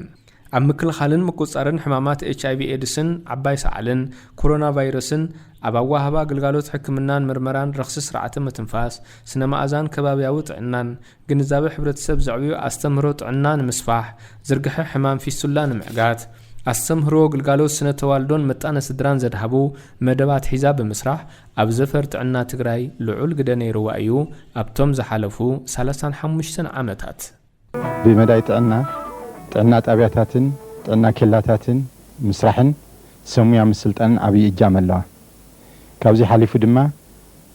ኣብ ምክልኻልን ምቁፅፃርን ሕማማት ኤች ኣይቪ ኤድስን ዓባይ ሰዓልን ኮሮና ቫይረስን፣ ኣብ ኣወሃህባ ግልጋሎት ሕክምናን ምርመራን ረኽሲ ስርዓተ ምትንፋስ፣ ስነ መኣዛን ከባብያዊ ጥዕናን፣ ግንዛበ ሕብረተሰብ ዘዕብዩ ኣስተምህሮ ጥዕና ንምስፋሕ፣ ዝርግሐ ሕማም ፊስቱላ ንምዕጋት፣ ኣስተምህሮ ግልጋሎት ስነ-ተዋልዶን ምጣነ ስድራን ዘድሃቡ መደብ ኣትሒዛ ብምስራሕ ኣብ ዘፈር ጥዕና ትግራይ ልዑል ግደ ነይርዋ እዩ ኣብቶም ዝሓለፉ ሰላሳን ሓሙሽተን ዓመታት። ብመዳይ ጥዕና፣ ጥዕና ጣብያታትን ጥዕና ኬላታትን ምስራሕን ሰብ ሙያ ምስልጣንን ዓብዪ እጃም ኣለዋ። ካብዚ ሓሊፉ ድማ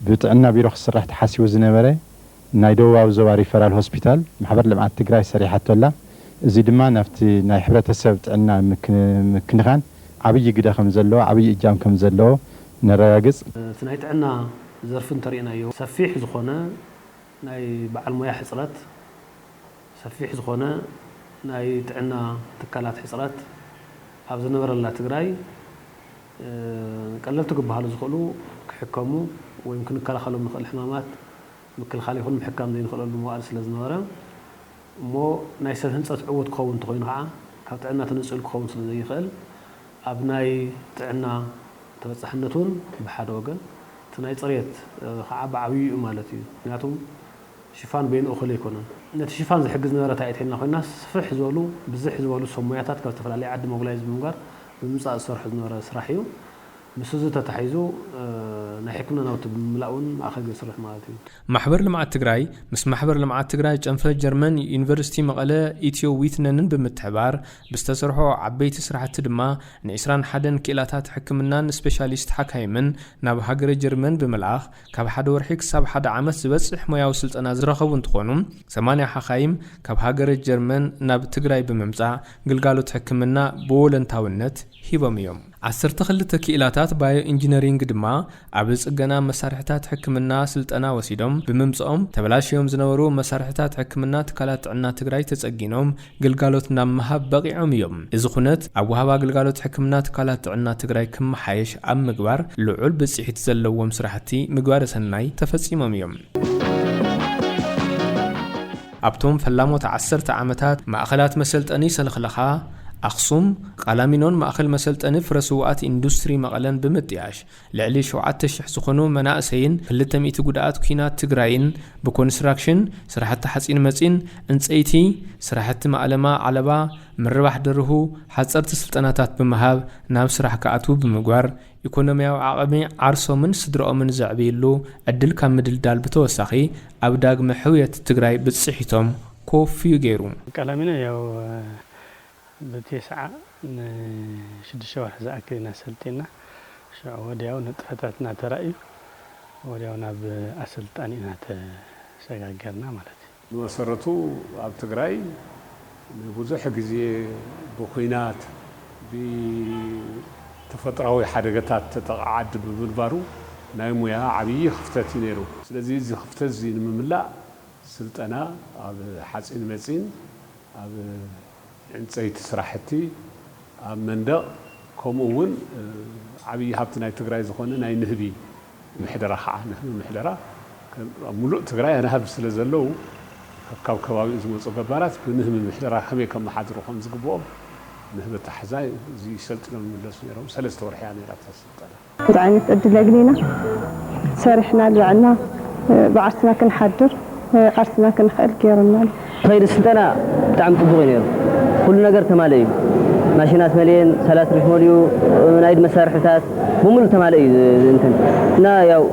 ብጥዕና ቢሮ ክስራሕ ተሓሲቡ ዝነበረ ናይ ደቡባዊ ዞባ ሪፈራል ሆስፒታል ማሕበር ልምዓት ትግራይ ሰሪሓቶ ኣላ። እዙይ ድማ ናብቲ ናይ ሕብረተሰብ ጥዕና ንምክንኻን ዓብዪ ግደ ከምዘለዎ፣ ዓብዪ እጃም ከምዘለዎ ነረጋግፅ። እቲ ናይ ጥዕና ዘርፊ እንተሪእናዮ ሰፊሕ ዝኾነ ናይ በዓል ሞያ ሕፅረት፣ ሰፊሕ ዝኾነ ናይ ጥዕና ትካላት ሕፅረት ኣብ ዝነበረላ ትግራይ፣ ቀለልቲ ክበሃሉ ዝኽእሉ ክሕከሙ ወይም ክንከላኸሎም ንኽእል ሕማማት ምክልኻል ይኹን ምሕካም ዘይንኽእለሉ መዋእል ስለ ዝነበረ እሞ ናይ ሰብ ህንጸት ዕዉት ክኸውን እንተኾይኑ ከኣ ካብ ጥዕና ተነጺሉ ክኸውን ስለ ዘይኽእል ኣብ ናይ ጥዕና ተበጻሕነት እውን ብሓደ ወገን እቲ ናይ ጽሬት ከኣ ብዓብዩ እዩ ማለት እዩ ምክንያቱ ሽፋን በይኑ እኹል ኣይኮነን። ነቲ ሽፋን ዝሕግዝ ነበረ ታይእተይልና ኮይና ስፍሕ ዝበሉ ብዝሕ ዝበሉ ሰብ ሞያታት ካብ ዝተፈላለየ ዓዲ ሞብላይዝ ብምግባር ብምምጻእ ዝሰርሖ ዝነበረ ስራሕ እዩ። ምስ እዚ ተታሒዙ ናይ ሕክምና ናውቲ ብምምላእ እውን ማእኸል የስርሕ ማለት እዩ። ማሕበር ልምዓት ትግራይ ምስ ማሕበር ልምዓት ትግራይ ጨንፈር ጀርመን ዩኒቨርሲቲ መቐለ ኢትዮ ዊትነንን ብምትሕባር ብዝተሰርሖ ዓበይቲ ስራሕቲ ድማ ን ዕስራን ሓደን ክኢላታት ሕክምናን ስፔሻሊስት ሓካይምን ናብ ሃገረ ጀርመን ብምልኣኽ ካብ ሓደ ወርሒ ክሳብ ሓደ ዓመት ዝበፅሕ ሞያዊ ስልጠና ዝረኸቡ እንትኾኑ፣ ሰማንያ ሓኻይም ካብ ሃገረ ጀርመን ናብ ትግራይ ብምምፃእ ግልጋሎት ሕክምና ብወለንታዊነት ሂቦም እዮም። ዓሰርተ ክልተ ክኢላታት ባዮ ኢንጂነሪንግ ድማ ኣብ ፅገና መሳርሕታት ሕክምና ስልጠና ወሲዶም ብምምፅኦም ተበላሽዮም ዝነበሩ መሳርሕታት ሕክምና ትካላት ጥዕና ትግራይ ተፀጊኖም ግልጋሎት ናብ ምሃብ በቒዖም እዮም። እዚ ኩነት ኣብ ወሃባ ግልጋሎት ሕክምና ትካላት ጥዕና ትግራይ ክመሓየሽ ኣብ ምግባር ልዑል ብፅሒት ዘለዎም ስራሕቲ ምግባረ ሰናይ ተፈፂሞም እዮም። ኣብቶም ፈላሞት ዓሰርተ ዓመታት ማእኸላት መሰልጠኒ ሰልኽለኻ ኣኽሱም፣ ቓላሚኖን ማእኸል መሰልጠኒ ፍረ ስውኣት ኢንዱስትሪ መቐለን ብምጥያሽ ልዕሊ ሸውዓተ ሽሕ ዝኾኑ መናእሰይን ክልተ ሚእቲ ጉዳኣት ኲናት ትግራይን ብኮንስትራክሽን፣ ስራሕቲ ሓፂን መፂን፣ ዕንፀይቲ፣ ስራሕቲ ማእለማ ዓለባ፣ ምርባሕ ደርሁ፣ ሓፀርቲ ስልጠናታት ብምሃብ ናብ ስራሕ ክኣትዉ ብምግባር ኢኮኖሚያዊ ዓቕሚ ዓርሶምን ስድረኦምን ዘዕብይሉ ዕድል ካብ ምድልዳል ብተወሳኺ ኣብ ዳግመ ሕውየት ትግራይ ብፅሒቶም ኮፍዩ ገይሩ። ቀላሚኖ ያው ብቴስዓ ንሽዱሽተ ወርሒ ዝኣክል ኢና ሰልጢንና። ሽዑ ወዲያው ንጥፈታትና ተራእዩ ወዲያው ናብ ኣሰልጣኒ ኢና ተሰጋገርና ማለት እዩ። ብመሰረቱ ኣብ ትግራይ ንብዙሕ ግዜ ብኹናት፣ ብተፈጥራዊ ሓደገታት ተጠቕዓ ዓዲ ብምንባሩ ናይ ሙያ ዓብዪ ክፍተት እዩ ነይሩ። ስለዚ እዚ ክፍተት እዚ ንምምላእ ስልጠና ኣብ ሓፂን መፂን ኣብ ዕንፀይቲ ስራሕቲ፣ ኣብ መንደቕ ከምኡ እውን ዓብዪ ሃብቲ ናይ ትግራይ ዝኾነ ናይ ንህቢ ምሕደራ ከዓ ንህቢ ምሕደራ ኣብ ሙሉእ ትግራይ ኣናህብ ስለዘለዉ ከካብ ከባቢኡ ዝመፁ ገባራት ብንህቢ ምሕደራ ከመይ ከመሓድሩ ከምዝግበኦም ንህቢ ኣታሕዛ እዙይ ሰልጢኖም ይምለሱ ነይሮም። ሰለስተ ወርሒ እያ ነይራ እታ ስልጠና። እንታይ ዓይነት ዕድል ኣግኒና ሰሪሕና ኣልባዕና ብዓርስና ክንሓድር ዓርስና ክንክእል ጌሩና። ከይዲ ስልጠና ብጣዕሚ ፅቡቕ እዩ ነይሩ። ኩሉ ነገር ተማልእ እዩ። ማሽናት መሊኤን፣ ሳላት ሪፍ መሊኡ፣ ናይ ኢድ መሳርሕታት ብሙሉእ ተማልእ እዩ እንትን እና ያው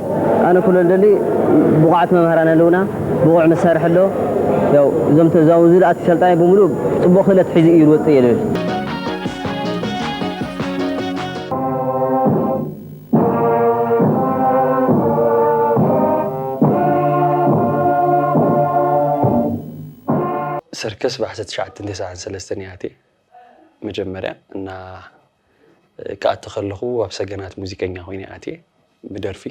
ኣነ ክብሎ ዝደሊ ብቑዓት መምሃራን ኣለውና፣ ብቑዕ መሳርሒ ኣሎ። ያው እዞም ኣብዚ ዝኣቱ ሰልጣኒ ብሙሉእ ፅቡቕ ክእለት ሒዙ እዩ ዝወፅእ እየ ልብል። ሰርከስ ብዓሰርተ ትሽዓተን ተስዓን ሰለስተን እየ ኣትየ መጀመርያ እና ክኣቲ ከለኹ ኣብ ሰገናት ሙዚቀኛ ኮይነ እየ ኣትየ ብደርፊ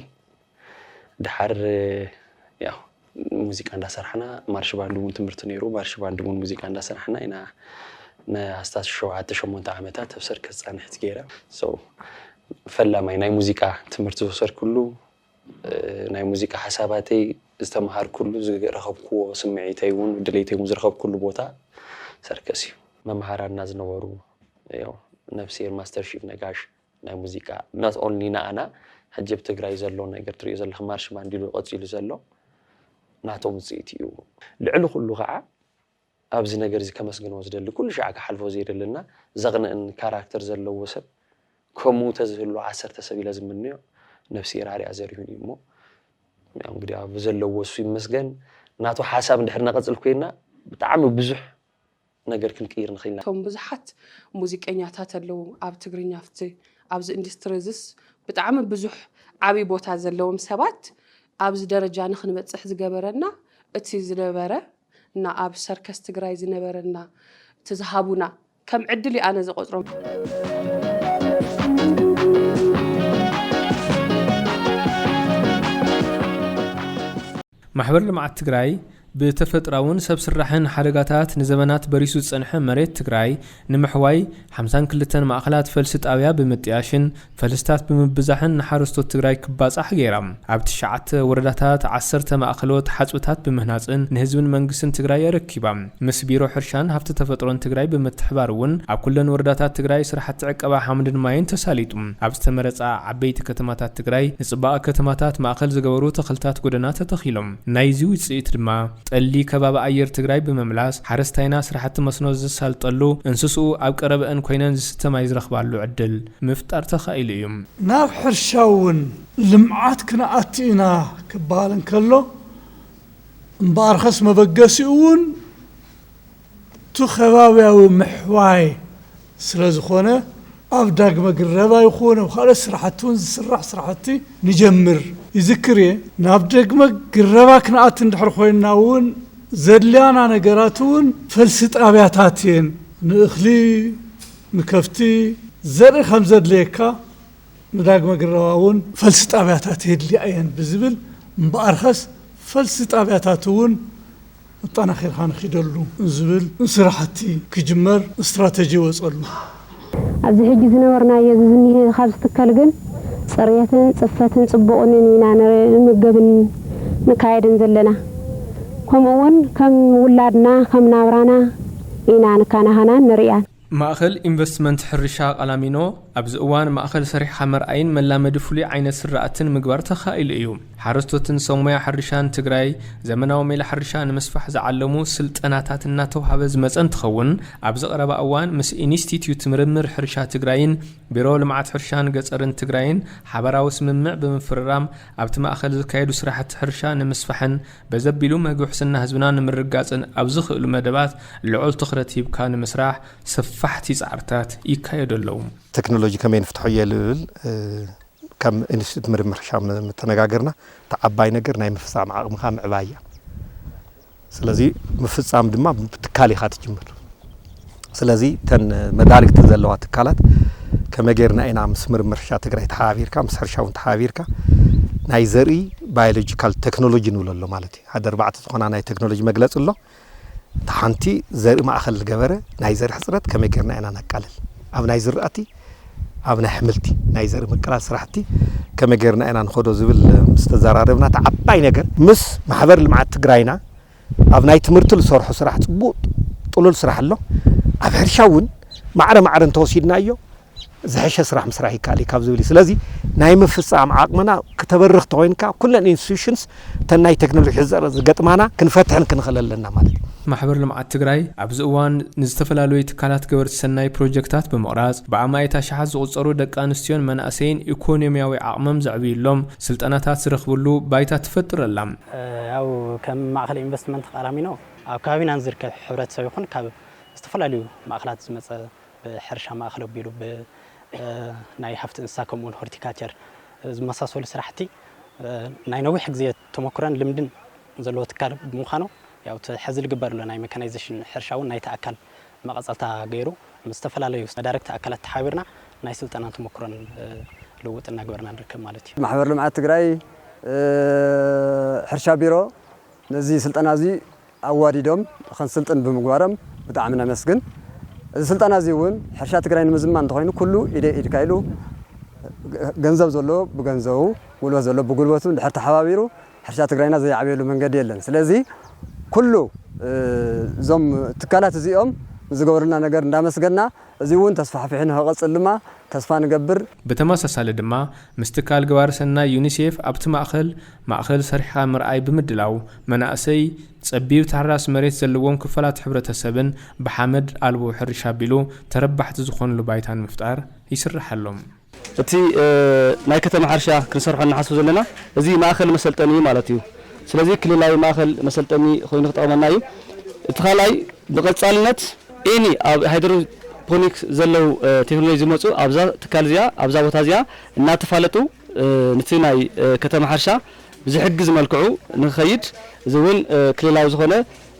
ደሓር ያው ሙዚቃ እንዳሰራሕና ማርሽ ባንድ እውን ትምህርቲ ነይሩ ማርሽ ባንድ እውን ሙዚቃ እንዳሰራሕና ኢና ንኣስታት ሸውዓተ ሸሞንተ ዓመታት ኣብ ሰርከስ ፃንሒት ገይረ so ፈላማይ ናይ ሙዚቃ ትምህርቲ ዝወሰድኩሉ ናይ ሙዚቃ ሓሳባተይ ዝተምሃርኩሉ ዝረኸብክዎ ስምዒተይ እውን ድሌተይ እውን ዝረኸብኩሉ ቦታ ሰርከስ እዩ። መምሃራንና ዝነበሩ ያው ነፍስሄር ማስተር ሺፍ ነጋሽ፣ ናይ ሙዚቃ not only ንኣና ሕጂ ኣብ ትግራይ ዘሎ ነገር ትሪእዮ ዘለኺ ማርሽ ባንድ ኢሉ ቀጺሉ ዘሎ ናቶም ውጽኢት እዩ። ልዕሊ ኩሉ ከኣ ኣብዚ ነገር እዚ ከመስግኖ ዝደሊ ኩሉ ሻዕ ክሓልፎ ዘይደሊ እና ዘቕንእን ካራክተር ዘለዎ ሰብ ከምኡ ተዝህሉ ዓሰርተ ሰብ ኢለ ዝምነዮ ነብሰይ ራርያ ዘሪሁን እዩ እሞ ያው እንግዲህ ኣብ ዘለዎ እሱ ይመስገን ናቱ ሓሳብ እንድሕር ነቐጽል ኮይና ብጣዕሚ ብዙሕ ነገር ክንቅይር ንኽእል ኢና። እቶም ብዙሓት ሙዚቀኛታት ኣለዉ ኣብ ትግርኛ ኣብቲ ኣብዚ ኢንዱስትሪ እዚስ ብጣዕሚ ብዙሕ ዓቢ ቦታ ዘለዎም ሰባት ኣብዚ ደረጃ ንኽንበጽሕ ዝገበረና እቲ ዝነበረ እና ኣብ ሰርከስ ትግራይ ዝነበረና እቲ ዝሃቡና ከም ዕድል እዩ ኣነ ዝቖጽሮ። ማሕበር ልምዓት ትግራይ ብተፈጥራውን ሰብ ስራሕን ሓደጋታት ንዘበናት በሪሱ ዝፀንሐ መሬት ትግራይ ንምሕዋይ ሓምሳን ክልተን ማእኸላት ፈልሲ ጣብያ ብምጥያሽን ፈልስታት ብምብዛሕን ንሓረስቶት ትግራይ ክባፃሕ ገይራ። ኣብ ትሽዓተ ወረዳታት ዓሰርተ ማእኸሎት ሓፅብታት ብምህናፅን ንህዝብን መንግስትን ትግራይ ኣረኪባ። ምስ ቢሮ ሕርሻን ሃፍቲ ተፈጥሮን ትግራይ ብምትሕባር እውን ኣብ ኩለን ወረዳታት ትግራይ ስራሕቲ ዕቀባ ሓምድን ማይን ተሳሊጡ ኣብ ዝተመረፃ ዓበይቲ ከተማታት ትግራይ ንፅባቐ ከተማታት ማእኸል ዝገበሩ ተኽልታት ጎደና ተተኺሎም። ናይዚ ውፅኢት ድማ ጠሊ ከባቢ ኣየር ትግራይ ብምምላስ ሓረስታይና ስራሕቲ መስኖ ዘሳልጠሉ፣ እንስስኡ ኣብ ቀረበእን ኮይነን ዝስተ ማይ ዝረኽባሉ ዕድል ምፍጣር ተኻኢሉ እዩ። ናብ ሕርሻ እውን ልምዓት ክንኣቱ ኢና ክበሃል እንከሎ፣ እምበኣርከስ መበገሲኡ እውን እቲ ከባብያዊ ምሕዋይ ስለ ዝኾነ ኣብ ዳግመ ግረባ ይኹን ኣብ ካልኦት ስራሕቲ እውን ዝስራሕ ስራሕቲ ንጀምር ይዝክር እየ። ናብ ደግመ ግረባ ክንኣቲ እንድሕር ኮይንና እውን ዘድልያና ነገራት እውን ፈልሲ ጣብያታት እየን። ንእኽሊ፣ ንከፍቲ፣ ዘርኢ ከም ዘድልየካ ንዳግመ ግረባ እውን ፈልሲ ጣብያታት የድልያ እየን ብዝብል እምበኣርከስ ፈልሲ ጣብያታት እውን ኣጠናኺርካ ንኺደሉ ዝብል ስራሕቲ ክጅመር ስትራተጂ ይወፀሉ። ኣብዚ ሕጂ ዝነበርናዮ እዚ ዝኒሀ ካብ ዝትከል ግን ፅርየትን ፅፈትን ፅቡቕንን ኢና ንምገብን ንካየድን ዘለና። ከምኡ እውን ከም ውላድና ከም ናብራና ኢና ንካናኸናን ንርእያን። ማእኸል ኢንቨስትመንት ሕርሻ ቃላሚኖ ኣብዚ እዋን ማእኸል ሰሪሕኻ መርኣይን መላመዲ ፍሉይ ዓይነት ስራእትን ምግባር ተኻኢሉ እዩ። ሓረስቶትን ሰብ ሞያ ሕርሻን ትግራይ ዘመናዊ ሜላ ሕርሻ ንምስፋሕ ዝዓለሙ ስልጠናታት እናተውሃበ ዝመፀ እንትኸውን ኣብዚ ቀረባ እዋን ምስ ኢንስቲትዩት ምርምር ሕርሻ ትግራይን ቢሮ ልምዓት ሕርሻን ገፀርን ትግራይን ሓበራዊ ስምምዕ ብምፍርራም ኣብቲ ማእኸል ዝካየዱ ስራሕቲ ሕርሻ ንምስፋሕን በዚ ኣቢሉ መግቢ ሑስና ህዝብና ንምርግጋፅን ኣብ ዝኽእሉ መደባት ልዑል ትኹረት ሂብካ ንምስራሕ ሰፋሕቲ ፃዕርታት ይካየዱ ኣለዉ። ቴክኖሎጂ ከመይ ንፍትሖ'የ ልብል ከም ኢንስቲትዩት ምርምር ሕርሻ ምተነጋገርና እቲ ዓባይ ነገር ናይ ምፍፃም ዓቕምኻ ምዕባይ እያ። ስለዚ ምፍፃም ድማ ብትካል ኢኻ ትጅምር። ስለዚ እተን መዳርግቲ ዘለዋ ትካላት ከመይ ጌርና ኢና ምስ ምርምር ሕርሻ ትግራይ ተሓባቢርካ ምስ ሕርሻ እውን ተሓባቢርካ ናይ ዘርኢ ባዮሎጂካል ቴክኖሎጂ ንብሎ ኣሎ ማለት እዩ ሓደ ኣርባዕተ ዝኾና ናይ ቴክኖሎጂ መግለፂ ኣሎ እቲ ሓንቲ ዘርኢ ማእኸል ዝገበረ ናይ ዘርኢ ሕፅረት ከመይ ጌርና ኢና ነቃልል ኣብ ናይ ዝራእቲ ኣብ ናይ ኣሕምልቲ ናይ ዘርኢ ምቅላል ስራሕቲ ከመይ ጌርና ኢና ንኸዶ ዝብል ምስ ተዘራረብና እቲ ዓባይ ነገር ምስ ማሕበር ልምዓት ትግራይና ኣብ ናይ ትምህርቲ ልሰርሖ ስራሕ ጽቡቅ ጥሉል ስራሕ ኣሎ ኣብ ሕርሻ ውን ማዕረ ማዕረ እንተወሲድናዮ ዝሐሸ ስራሕ ምስራሕ ይካኣል እዩ ካብ ዝብል እዩ ስለዚ ናይ ምፍጻም ዓቅምና ክተበርኽ ተኮይንካ ኩለን institutions እተን ናይ ቴክኖሎጂ ሕጸረት ዝገጥማና ክንፈትሕን ክንኽእል ኣለና ማለት እዩ። ማሕበር ልምዓት ትግራይ ኣብዚ እዋን ንዝተፈላለዩ ትካላት ገበርቲ ሰናይ ፕሮጀክታት ብምቕራፅ ብኣማኢት ኣሽሓት ዝቑፀሩ ደቂ ኣንስትዮን መናእሰይን ኢኮኖሚያዊ ዓቕሞም ዘዕብዩሎም ስልጠናታት ዝረኽብሉ ባይታ ትፈጥር ኣላ። ያው ከም ማእኸል ኢንቨስትመንት ቃላሚኖ ኣብ ከባቢና ንዝርከብ ሕብረተሰብ ይኹን ካብ ዝተፈላለዩ ማእኸላት ዝመፀ ብሕርሻ ማእኸል ኣቢሉ ብናይ ሃፍቲ እንስሳ ከምኡ ውን ሆርቲካቸር ዝመሳሰሉ ስራሕቲ ናይ ነዊሕ ግዜ ተሞክሮን ልምድን ዘለዎ ትካል ብምዃኑ ያው እቲ ሕዚ ዝግበር ዘሎ ናይ መካናይዜሽን ሕርሻ ውን ናይቲ ኣካል መቐጸልታ ገይሩ ምስ ዝተፈላለዩ መዳርግቲ ኣካላት ተሓቢርና ናይ ስልጠናን ተሞክሮን ልውውጥ እናገበርና ንርከብ ማለት እዩ። ማሕበር ልምዓት ትግራይ ሕርሻ ቢሮ ነዚ ስልጠና እዚ ኣዋዲዶም ኸንስልጥን ብምግባሮም ብጣዕሚ ነመስግን። እዚ ስልጠና እዚ እውን ሕርሻ ትግራይ ንምዝማን እንተኾይኑ ኩሉ ኢደይ ኢድካ ኢሉ ገንዘብ ዘለዎ ብገንዘቡ፣ ጉልበት ዘለዎ ብጉልበቱ እንድሕር ተሓባቢሩ ሕርሻ ትግራይና ዘይዓብየሉ መንገዲ የለን ስለዚ ኩሉ እዞም ትካላት እዚኦም ንዝገበሩልና ነገር እንዳመስገና እዚ እውን ተስፋሕፊሑ ንክቕፅል ድማ ተስፋ ንገብር። ብተመሳሳሊ ድማ ምስ ትካል ገባሪ ሰናይ ዩኒሴፍ ኣብቲ ማእኸል ማእኸል ሰሪሕኻ ምርኣይ ብምድላው መናእሰይ ፀቢብ ታሕራሲ መሬት ዘለዎም ክፋላት ሕብረተሰብን ብሓመድ ኣልቦ ሕርሻ ኣቢሉ ተረባሕቲ ዝኾንሉ ባይታ ንምፍጣር ይስርሓሎም። እቲ ናይ ከተማ ሕርሻ ክንሰርሖ እንሓስብ ዘለና እዚ ማእኸል መሰልጠኒ እዩ ማለት እዩ። ስለዚ ክልላዊ ማእኸል መሰልጠኒ ኾይኑ ክጠቕመና እዩ። እቲ ካልኣይ ብቐፃልነት ኤኒ ኣብ ሃይድሮፖኒክ ዘለው ቴክኖሎጂ ዝመፁ ኣብዛ ትካል እዚኣ ኣብዛ ቦታ እዚኣ እናተፋለጡ ንቲ ናይ ከተማ ሕርሻ ብዝሕግዝ መልክዑ ንክኸይድ እዚ እውን ክልላዊ ዝኾነ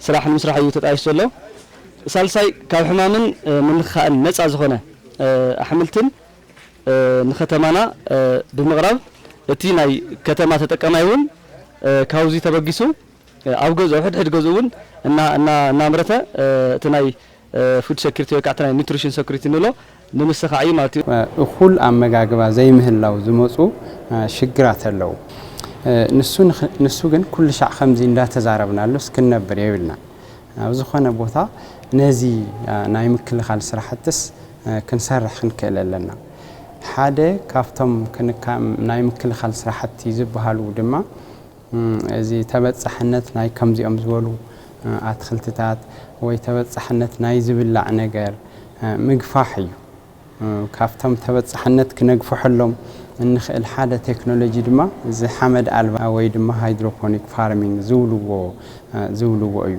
ስራሕ ንምስራሕ እዩ ተጣይሹ ዘሎ። ሳልሳይ ካብ ሕማምን ምንኽኻእን ነፃ ዝኾነ ኣሕምልትን ንከተማና ብምቕራብ እቲ ናይ ከተማ ተጠቀማይ እውን ካብዙይ ተበጊሱ ኣብ ገዝኡ ሕድሕድ ገዝኡ እውን እናምረተ እቲ ናይ ፉድ ሰኩሪቲ ወይ ከዓ'ቲ ናይ ኑትሪሽን ሰኩሪቲ ንብሎ ንምስኻዕ እዩ ማለት እዩ። እኹል ኣመጋግባ ዘይምህላው ዝመፁ ሽግራት ኣለው። ንሱ ንሱ ግን ኩሉሻዕ ከምዚ እንዳተዛረብናሉስ ክንነብር የብልናን። ኣብ ዝኾነ ቦታ ነዚ ናይ ምክልኻል ስራሕትስ ክንሰርሕ ክንክእል ኣለና። ሓደ ካብቶም ክንካ ናይ ምክልኻል ስራሕቲ ዝበሃሉ ድማ፣ እዚ ተበፃሕነት ናይ ከምዚኦም ዝበሉ ኣትኽልትታት ወይ ተበፃሕነት ናይ ዝብላዕ ነገር ምግፋሕ እዩ። ካብቶም ተበፃሕነት ክነግፍሐሎም እንኽእል ሓደ ቴክኖሎጂ ድማ እዚ ሓመድ ኣልባ ወይ ድማ ሃይድሮፖኒክ ፋርሚንግ ዝብልዎ ዝብልዎ እዩ።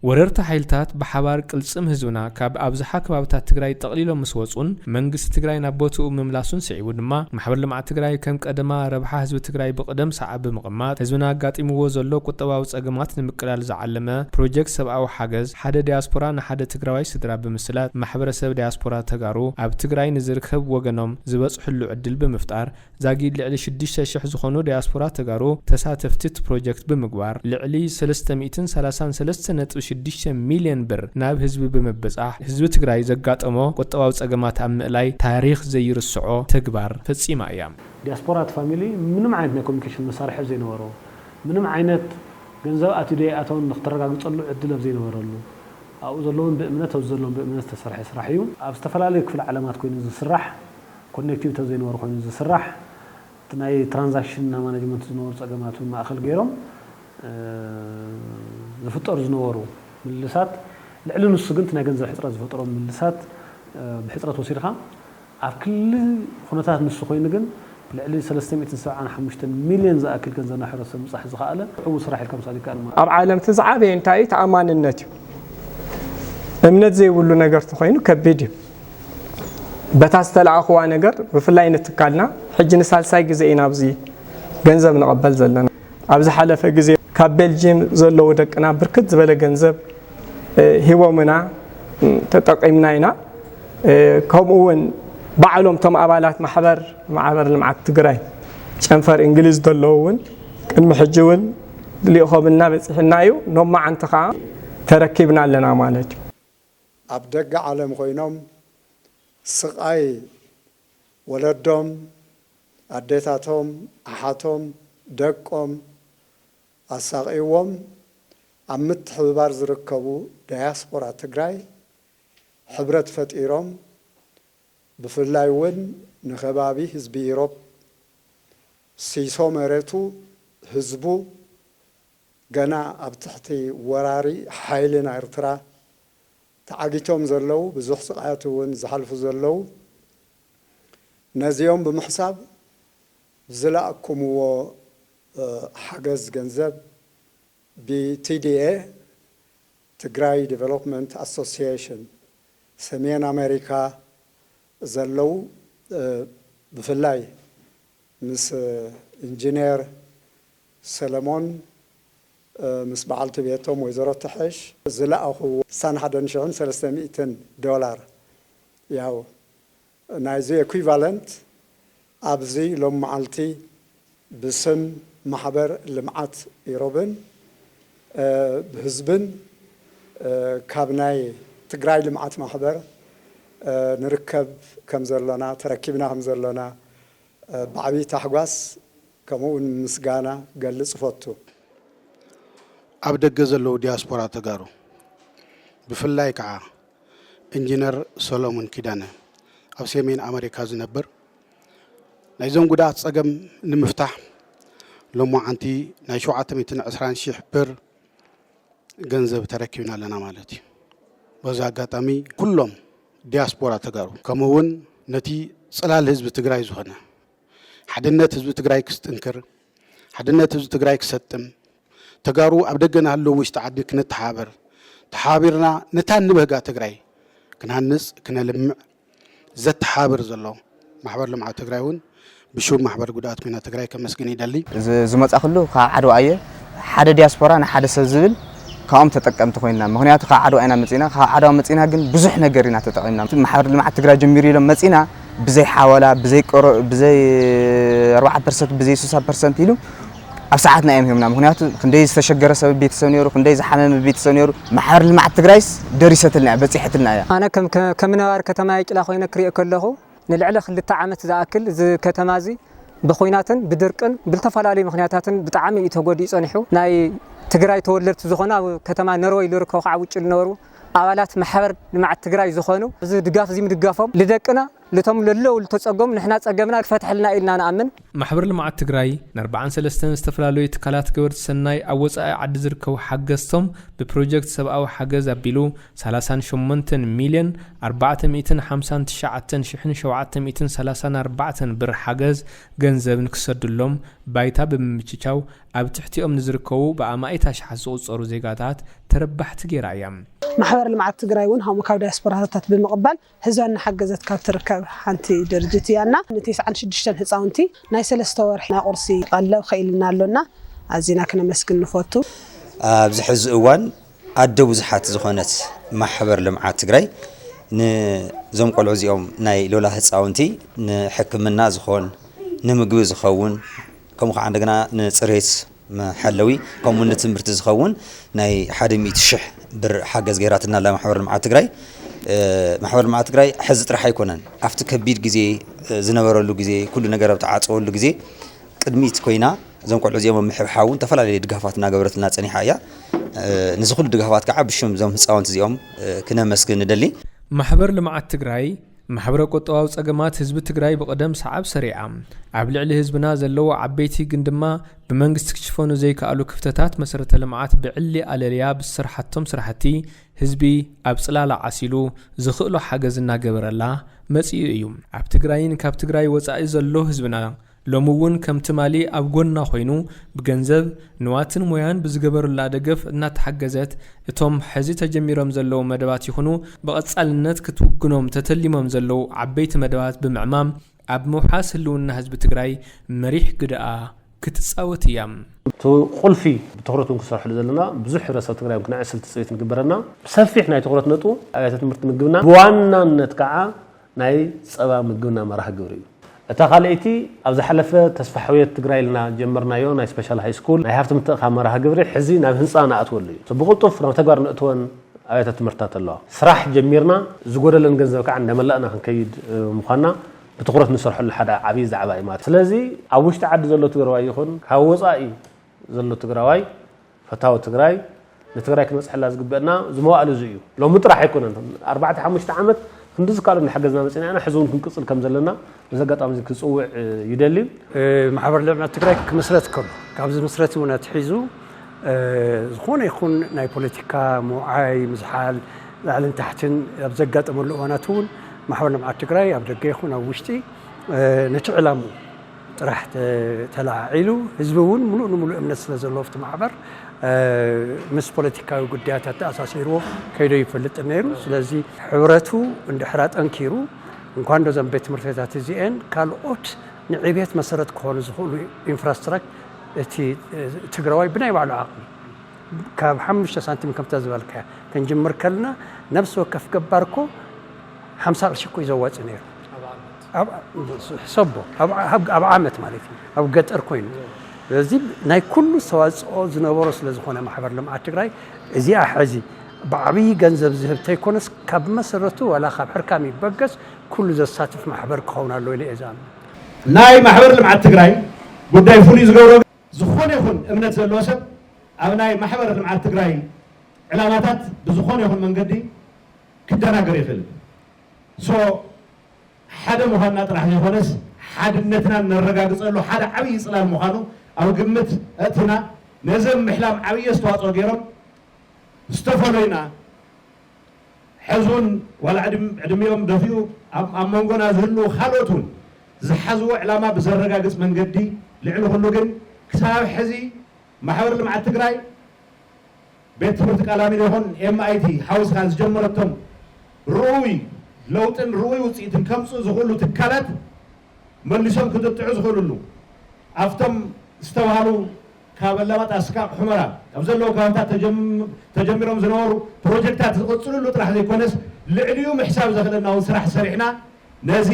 ወረርቲ ሓይልታት ብሓባር ቅልፅም ህዝብና ካብ ኣብዝሓ ከባብታት ትግራይ ጠቕሊሎም ምስ ወፁን መንግስቲ ትግራይ ናብ ቦትኡ ምምላሱን ስዒቡ ድማ ማሕበር ልምዓት ትግራይ ከም ቀደማ ረብሓ ህዝቢ ትግራይ ብቕደም ሰዓብ ብምቕማጥ ህዝብና ኣጋጢምዎ ዘሎ ቁጠባዊ ፀገማት ንምቅላል ዝዓለመ ፕሮጀክት ሰብኣዊ ሓገዝ ሓደ ዳያስፖራ ንሓደ ትግራዋይ ስድራ ብምስላጥ ማሕበረሰብ ዳያስፖራ ተጋሩ ኣብ ትግራይ ንዝርከብ ወገኖም ዝበፅሕሉ ዕድል ብምፍጣር ዛጊድ ልዕሊ ሽዱሽተ ሽሕ ዝኾኑ ዳያስፖራ ተጋሩ ተሳተፍቲ እቲ ፕሮጀክት ብምግባር ልዕሊ ሰለስተ ሚእትን ሰላሳን ሰለስተ ነጥቢ ሽዱሽተ ሚልዮን ብር ናብ ህዝቢ ብምብፃሕ ህዝቢ ትግራይ ዘጋጠሞ ቁጠባዊ ፀገማት ኣብ ምእላይ ታሪኽ ዘይርስዖ ተግባር ፈፂማ እያ። ዲያስፖራ እቲ ፋሚሊ ምንም ዓይነት ናይ ኮሙኒኬሽን መሳርሒ ኣብ ዘይነበሮ፣ ምንም ዓይነት ገንዘብ ኣትዩ ዶ ኣይኣተወን ንክተረጋግፀሉ ዕድል ኣብ ዘይነበረሉ፣ ኣብኡ ዘለውን ብእምነት ኣብዚ ዘለውን ብእምነት ዝተሰርሐ ስራሕ እዩ። ኣብ ዝተፈላለዩ ክፍለ ዓለማት ኮይኑ ዝስራሕ ኮኔክቲቭ ተዘይንበሩ ኮይኑ ዝስራሕ እቲ ናይ ትራንዛክሽን እና ማናጅመንት ዝነበሩ ፀገማት እውን ማእኸል ገይሮም ዝፍጠሩ ዝነበሩ ምልልሳት ልዕሊ ንሱ ግን እቲ ናይ ገንዘብ ሕፅረት ዝፈጠሮም ምልልሳት ብሕፅረት ወሲድኻ ኣብ ክሊ ኹነታት ንሱ ኮይኑ ግን ልዕሊ ሰለስተ ሚእትን ሰብዓን ሓሙሽተን ሚሊየን ዝኣክል ገንዘብ ናብ ሕብረተሰብ ምብፃሕ ዝኸኣለ ዕውት ስራሕ ኢልካ ምውሳድ ይከኣል ማለት እዩ። ኣብ ዓለም እቲ ዝዓበየ እንታይ እዩ? ተኣማንነት እዩ። እምነት ዘይብሉ ነገር ተኾይኑ ከቢድ እዩ። በታ ዝተላኣኹዋ ነገር ብፍላይ ንትካልና ሕጂ ንሳልሳይ ግዜ ኢና ኣብዚ ገንዘብ ንቐበል ዘለና። ኣብ ዝሓለፈ ግዜ ካብ ቤልጂየም ዘለዉ ደቅና ብርክት ዝበለ ገንዘብ ሂቦምና ተጠቒምና ኢና። ከምኡ እውን ባዕሎም እቶም ኣባላት ማሕበር ማሕበር ልምዓት ትግራይ ጨንፈር እንግሊዝ ዘለዉ እውን ቅድሚ ሕጂ እውን ልኢኾምልና በፂሑና እዩ። ሎማዓንቲ ከዓ ተረኪብና ኣለና ማለት እዩ። ኣብ ደገ ዓለም ኮይኖም ስቓይ ወለዶም፣ ኣዴታቶም፣ ኣሓቶም፣ ደቆም ኣሳቕይዎም ኣብ ምትሕብባር ዝርከቡ ዳያስፖራ ትግራይ ሕብረት ፈጢሮም ብፍላይ እውን ንከባቢ ህዝቢ ኢሮብ ሲሶ መሬቱ፣ ህዝቡ፣ ገና ኣብ ትሕቲ ወራሪ ሓይሊ ናይ ኤርትራ ተዓጊቶም ዘለዉ ብዙሕ ስቓያት እውን ዝሓልፉ ዘለዉ ነዚኦም ብምሕሳብ ዝላእኩምዎ ሓገዝ ገንዘብ ብ TDA፣ ትግራይ ዴቨሎፕመንት ኣሶሲዬሽን፣ ሰሜን ኣሜሪካ ዘለዉ ብፍላይ ምስ ኢንጂኔር ሰለሞን ምስ በዓልቲ ቤቶም ወይዘሮ ትሐሽ ዝለኣኹዎ ስሳን ሓደን ሽሕን ሰለስተ ሚእትን ዶላር ያው ናይዚ ኤኩቫለንት ኣብዚ ሎሚ መዓልቲ ብስም ማሕበር ልምዓት ኢሮብን ብህዝብን ካብ ናይ ትግራይ ልምዓት ማሕበር ንርከብ ከምዘሎና ተረኪብና ከምዘሎና ብዓብይ ታሕጓስ ከምኡውን ምስጋና ክገልፅ እፈቱ። ኣብ ደገ ዘለዉ ዲያስፖራ ተጋሩ ብፍላይ ከዓ ኢንጂነር ሰሎሙን ኪዳነ ኣብ ሴሜን ኣመሪካ ዝነብር ናይዞም ጉዳኣት ፀገም ንምፍታሕ ሎሞዓንቲ ናይ ሸውዓተ ሚእትን ዕስራን ሺሕ ብር ገንዘብ ተረኪብና ኣለና ማለት እዩ። በዚ ኣጋጣሚ ኩሎም ዲያስፖራ ተጋሩ ከምኡ እውን ነቲ ፅላል ህዝቢ ትግራይ ዝኾነ ሓድነት ህዝቢ ትግራይ ክስጥንክር ሓድነት ህዝቢ ትግራይ ክሰጥም ተጋሩ ኣብ ደገ ንሃለዉ ውሽጢ ዓዲ ክነተሓባበር ተሓባቢርና ነታ ንበህጋ ትግራይ ክንሃንፅ ክነልምዕ ዘተሓባብር ዘሎ ማሕበር ልምዓት ትግራይ እውን ብሹም ማሕበር ጉዳኣት ኩናት ትግራይ ከመስግን ይደሊ። ዝመፃክሉ ካብ ዓድዋ እየ ሓደ ዲያስፖራ ንሓደ ሰብ ዝብል ካብኦም ተጠቀምቲ ኮይና ምክንያቱ ካብ ዓድዋ ኢና መፂና ካብ ዓድዋ መፂና ግን ብዙሕ ነገር ኢና ተጠቂምና ማሕበር ልምዓት ትግራይ ጀሚሩ ኢሎም መፂና ብዘይ ሓወላ ብዘይ ብዘይ ኣርባዓ ፐርሰንት ብዘይ ሱሳ ፐርሰንት ኢሉ ኣብ ሰዓትና እዮም ሂቦምና ምክንያቱ ክንደይ ዝተሸገረ ሰብ ቤተሰብ ነይሩ ክንደይ ዝሓመመ ቤተሰብ ነይሩ ማሕበር ልምዓት ትግራይስ ደሪሰትልና እያ በፂሐትልና እያ። ኣነ ከም ነባሪ ከተማ የቂላ ኮይነ ክሪኦ ከለኩ ንልዕሊ ክልተ ዓመት ዝኣክል እዚ ከተማ እዚ ብኩናትን ብድርቅን ብልተፈላለዩ ምክንያታትን ብጣዕሚ እዩ ተጎዲኡ ፀኒሑ ናይ ትግራይ ተወለድቲ ዝኮኑ ኣብ ከተማ ነርወይ ልርከቡ ካዓ ውጭ ልነበሩ ኣባላት ማሕበር ልምዓት ትግራይ ዝኮኑ እዚ ድጋፍ እዚ ምድጋፎም ልደቅና ልቶም ለለው ልተፀገሙ ንሕና ፀገምና ክፈትሐልና እዩ ኢልና ንኣምን። ማሕበር ልምዓት ትግራይ ንኣርብዓን ሰለስተን ዝተፈላለዩ ትካላት ገበርቲ ሰናይ ኣብ ወፃኢ ዓዲ ዝርከቡ ሓገዝቶም ብፕሮጀክት ሰብኣዊ ሓገዝ ኣቢሉ ሰላሳን ሸሞንተን ሚልዮን ኣርባዕተ ሚእትን ሓምሳን ትሽዓተን ሽሕን ሸውዓተ ሚእትን ሰላሳን ኣርባዕተን ብር ሓገዝ ገንዘብ ንክሰድሎም ባይታ ብምምችቻው ኣብ ትሕቲኦም ንዝርከቡ ብኣማኢት ኣሽሓት ዝቑፀሩ ዜጋታት ተረባሕቲ ገይራ እያ። ማሕበር ልምዓት ትግራይ እውን ሃሙ ካብ ዳያስፖራታት ብምቕባል ህዝባ እናሓገዘት ካብ ትርከብ ሓንቲ ድርጅት እያ እና ንቴስዓን ሽዱሽተን ህፃውንቲ ናይ ሰለስተ ወርሒ ናይ ቁርሲ ቀለብ ኸኢልና ኣሎ እና ኣዚና ክነመስግን ንፎቱ። ኣብዚ ሕዚ እዋን ኣደ ብዙሓት ዝኾነት ማሕበር ልምዓት ትግራይ ንዞም ቆልዑ እዚኦም ናይ ሎላ ህፃውንቲ ንሕክምና ዝኾን ንምግቢ ዝኸውን ከምኡ ኸዓ እንደገና ንፅሬት መሐለዊ ከምኡ እውን ንትምህርቲ ዝኸውን ናይ ሓደ ሚእቲ ሽሕ ብር ሓገዝ ገይራትና ኣላ ማሕበር ልምዓት ትግራይ። ማሕበር ልምዓት ትግራይ ሕዚ ጥራሕ ኣይኮነን ኣብቲ ከቢድ ግዜ ዝነበረሉ ግዜ ኩሉ ነገር ኣብ ተዓፀወሉ ግዜ ቅድሚት ኮይና እዞም ቆልዑ እዚኦም ኣብ ምሕብሓብ እውን ዝተፈላለዩ ድጋፋት እናገበረትልና ፀኒሓ እያ። ንዚ ኩሉ ድጋፋት ከዓ ብሽም እዞም ህፃውንቲ እዚኦም ክነመስግን ንደሊ። ማሕበር ልምዓት ትግራይ ማሕበረ ቁጠባዊ ፀገማት ህዝቢ ትግራይ ብቕደም ሰዓብ ሰሪዓ ኣብ ልዕሊ ህዝብና ዘለዎ ዓበይቲ ግን ድማ ብመንግስቲ ክሽፈኑ ዘይከኣሉ ክፍተታት መሰረተ ልምዓት ብዕሊ ኣለልያ ብዝሰርሓቶም ስራሕቲ ህዝቢ ኣብ ፅላላ ዓሲሉ ዝኽእሎ ሓገዝ እናገበረላ መፂኡ እዩ። ኣብ ትግራይን ካብ ትግራይ ወፃኢ ዘሎ ህዝብና ሎሚ እውን ከም ትማሊ ኣብ ጎና ኮይኑ ብገንዘብ፣ ንዋትን ሞያን ብዝገበሩላ ደገፍ እናተሓገዘት እቶም ሕዚ ተጀሚሮም ዘለዉ መደባት ይኹኑ ብቐፃልነት ክትውግኖም ተተሊሞም ዘለዉ ዓበይቲ መደባት ብምዕማም ኣብ ምውሓስ ህልውና ህዝቢ ትግራይ መሪሕ ግደኣ ክትፃወት እያ። እቲ ቁልፊ ብትኹረት እውን ክንሰርሐሉ ዘለና ብዙሕ ሕብረተሰብ ትግራይ እውን ክነዕስል ትፅቢት ንግበረና ብሰፊሕ ናይ ትኹረት ነጥቡ ኣብያተ ትምህርቲ ምግብና ብዋናነት ከዓ ናይ ፀባ ምግብና መርሃ ግብሪ እዩ። እታ ካልኣይቲ ኣብ ዝሓለፈ ተስፋሕውየት ትግራይ ኢልና ጀመርናዮ ናይ ስፔሻል ሃይ ስኩል ናይ ሃፍቲ ምትእኽኻብ መርሃ ግብሪ ሕዚ ናብ ህንፃ ንኣትወሉ እዩ። ሶ ብቕልጡፍ ናብ ተግባር ነእትወን ኣብያተ ትምህርትታት ኣለዋ። ስራሕ ጀሚርና ዝጎደለን ገንዘብ ከዓ እንዳመላእና ክንከይድ ምዃንና ብትኹረት ንሰርሐሉ ሓደ ዓብይ ዛዕባ እዩ ማለት እዩ። ስለዚ ኣብ ውሽጢ ዓዲ ዘሎ ትግራዋይ ይኹን ካብ ወፃኢ ዘሎ ትግራዋይ ፈታዊ ትግራይ ንትግራይ ክንበፅሐላ ዝግበእና ዝመዋእል እዚ እዩ ሎሚ ጥራሕ ኣይኮነን ኣርባዕተ ሓሙሽተ ዓመት ክንድዚ ካልኦ እናሓገዝና መፅና ኢና ሕዚ እውን ክንቅፅል ከም ዘለና በዚ ኣጋጣሚ እዚ ክፅውዕ ይደሊ ማሕበር ልዕና ትግራይ ክምስረት ከሎ ካብ ዝምስረት እውን ኣትሒዙ ዝኾነ ይኹን ናይ ፖለቲካ ምውዓይ ምዝሓል ላዕልን ታሕትን ኣብ ዘጋጠመሉ እዋናት እውን ማሕበር ልምዓት ትግራይ ኣብ ደገ ይኹን ኣብ ውሽጢ ነቲ ዕላምኡ ጥራሕ ተለዓዒሉ ህዝቢ እውን ሙሉእ ንሙሉእ እምነት ስለ ዘለዎ ኣብቲ ማሕበር ምስ ፖለቲካዊ ጉዳያት ኣተኣሳሲርዎ ከይዶ ይፈልጥን ነይሩ ስለዚ ሕብረቱ እንድሕር ኣጠንኪሩ እንኳን ዶ ዘን ቤት ትምህርቲ ቤታት እዚኤን ካልኦት ንዕቤት መሰረት ክኾኑ ዝኽእሉ ኢንፍራስትራክ እቲ ትግራዋይ ብናይ ባዕሉ ዓቕሚ ካብ ሓሙሽተ ሳንቲም ከምታ ዝበልካያ ክንጅምር ከልና ነብሲ ወከፍ ገባር እኮ ሓምሳ ቅርሺ እኮ እዩ ዘዋፅ ነይሩ ሕሰቦ ኣብ ዓመት ማለት እዩ ኣብ ገጠር ኮይኑ ስለዚ ናይ ኩሉ ኣስተዋፅኦ ዝነበሮ ስለ ዝኾነ ማሕበር ልምዓት ትግራይ እዚኣ ሕዚ ብዓብዪ ገንዘብ ዝህብ ተይኮነስ ካብ መሰረቱ ዋላ ካብ ሕርካም ይበገስ ኩሉ ዘሳትፍ ማሕበር ክኸውን ኣለዎ ኢለ እየ ዝኣምን። ናይ ማሕበር ልምዓት ትግራይ ጉዳይ ፍሉይ ዝገብሮ ግን ዝኾነ ይኹን እምነት ዘለዎ ሰብ ኣብ ናይ ማሕበር ልምዓት ትግራይ ዕላማታት ብዝኾነ ይኹን መንገዲ ክደናገር ይኽእል እዩ። ሓደ ምዃንና ጥራሕ ዘይኮነስ ሓድነትና እነረጋግፀሉ ሓደ ዓብዪ ፅላል ምዃኑ ኣብ ግምት ኣእቲና ነዚ ኣብ ምሕላም ዓብዪ ኣስተዋፅኦ ገይሮም ዝተፈለዩና ሕዚ እውን ዋላ ዕድሚኦም ደፊኡ ኣብ መንጎና ዝህልዉ ካልኦት እውን ዝሓዝዎ ዕላማ ብዘረጋግፅ መንገዲ ልዕሊ ኩሉ ግን ክሳብ ሕዚ ማሕበር ልምዓት ትግራይ ቤት ትምህርቲ ቃላሚኖ ይኹን MIT ሓዊስካ ዝጀመረቶም ርኡይ ለውጥን ርኡይ ውፅኢትን ከምፅኡ ዝኽእሉ ትካላት መሊሶም ክጥጥዑ ዝኽእልሉ ኣፍቶም ዝተብሃሉ ካብ ኣላማጣ እስካቅ ሑመራ ኣብ ዘለዉ ከባብታት ተጀሚሮም ዝነበሩ ፕሮጀክታት ዝቕፅልሉ ጥራሕ ዘይኮነስ ልዕሊኡ ምሕሳብ ዘኽእለና እውን ስራሕ ሰሪሕና ነዚ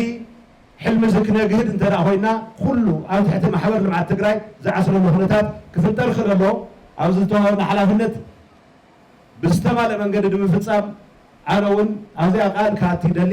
ሕልሚ'ዚ ክነግህድ እንተድኣ ኮይንና ኩሉ ኣብ ትሕቲ ማሕበር ልምዓት ትግራይ ዝዓስለሉ ኩነታት ክፍጠር ይኽእል ኣሎ። ኣብዚ ዝተዋህበና ሓላፍነት ብዝተማልእ መንገዲ ንምፍፃም ኣነ እውን ኣብዚኣ ቃል ክኣቲ ይደሊ።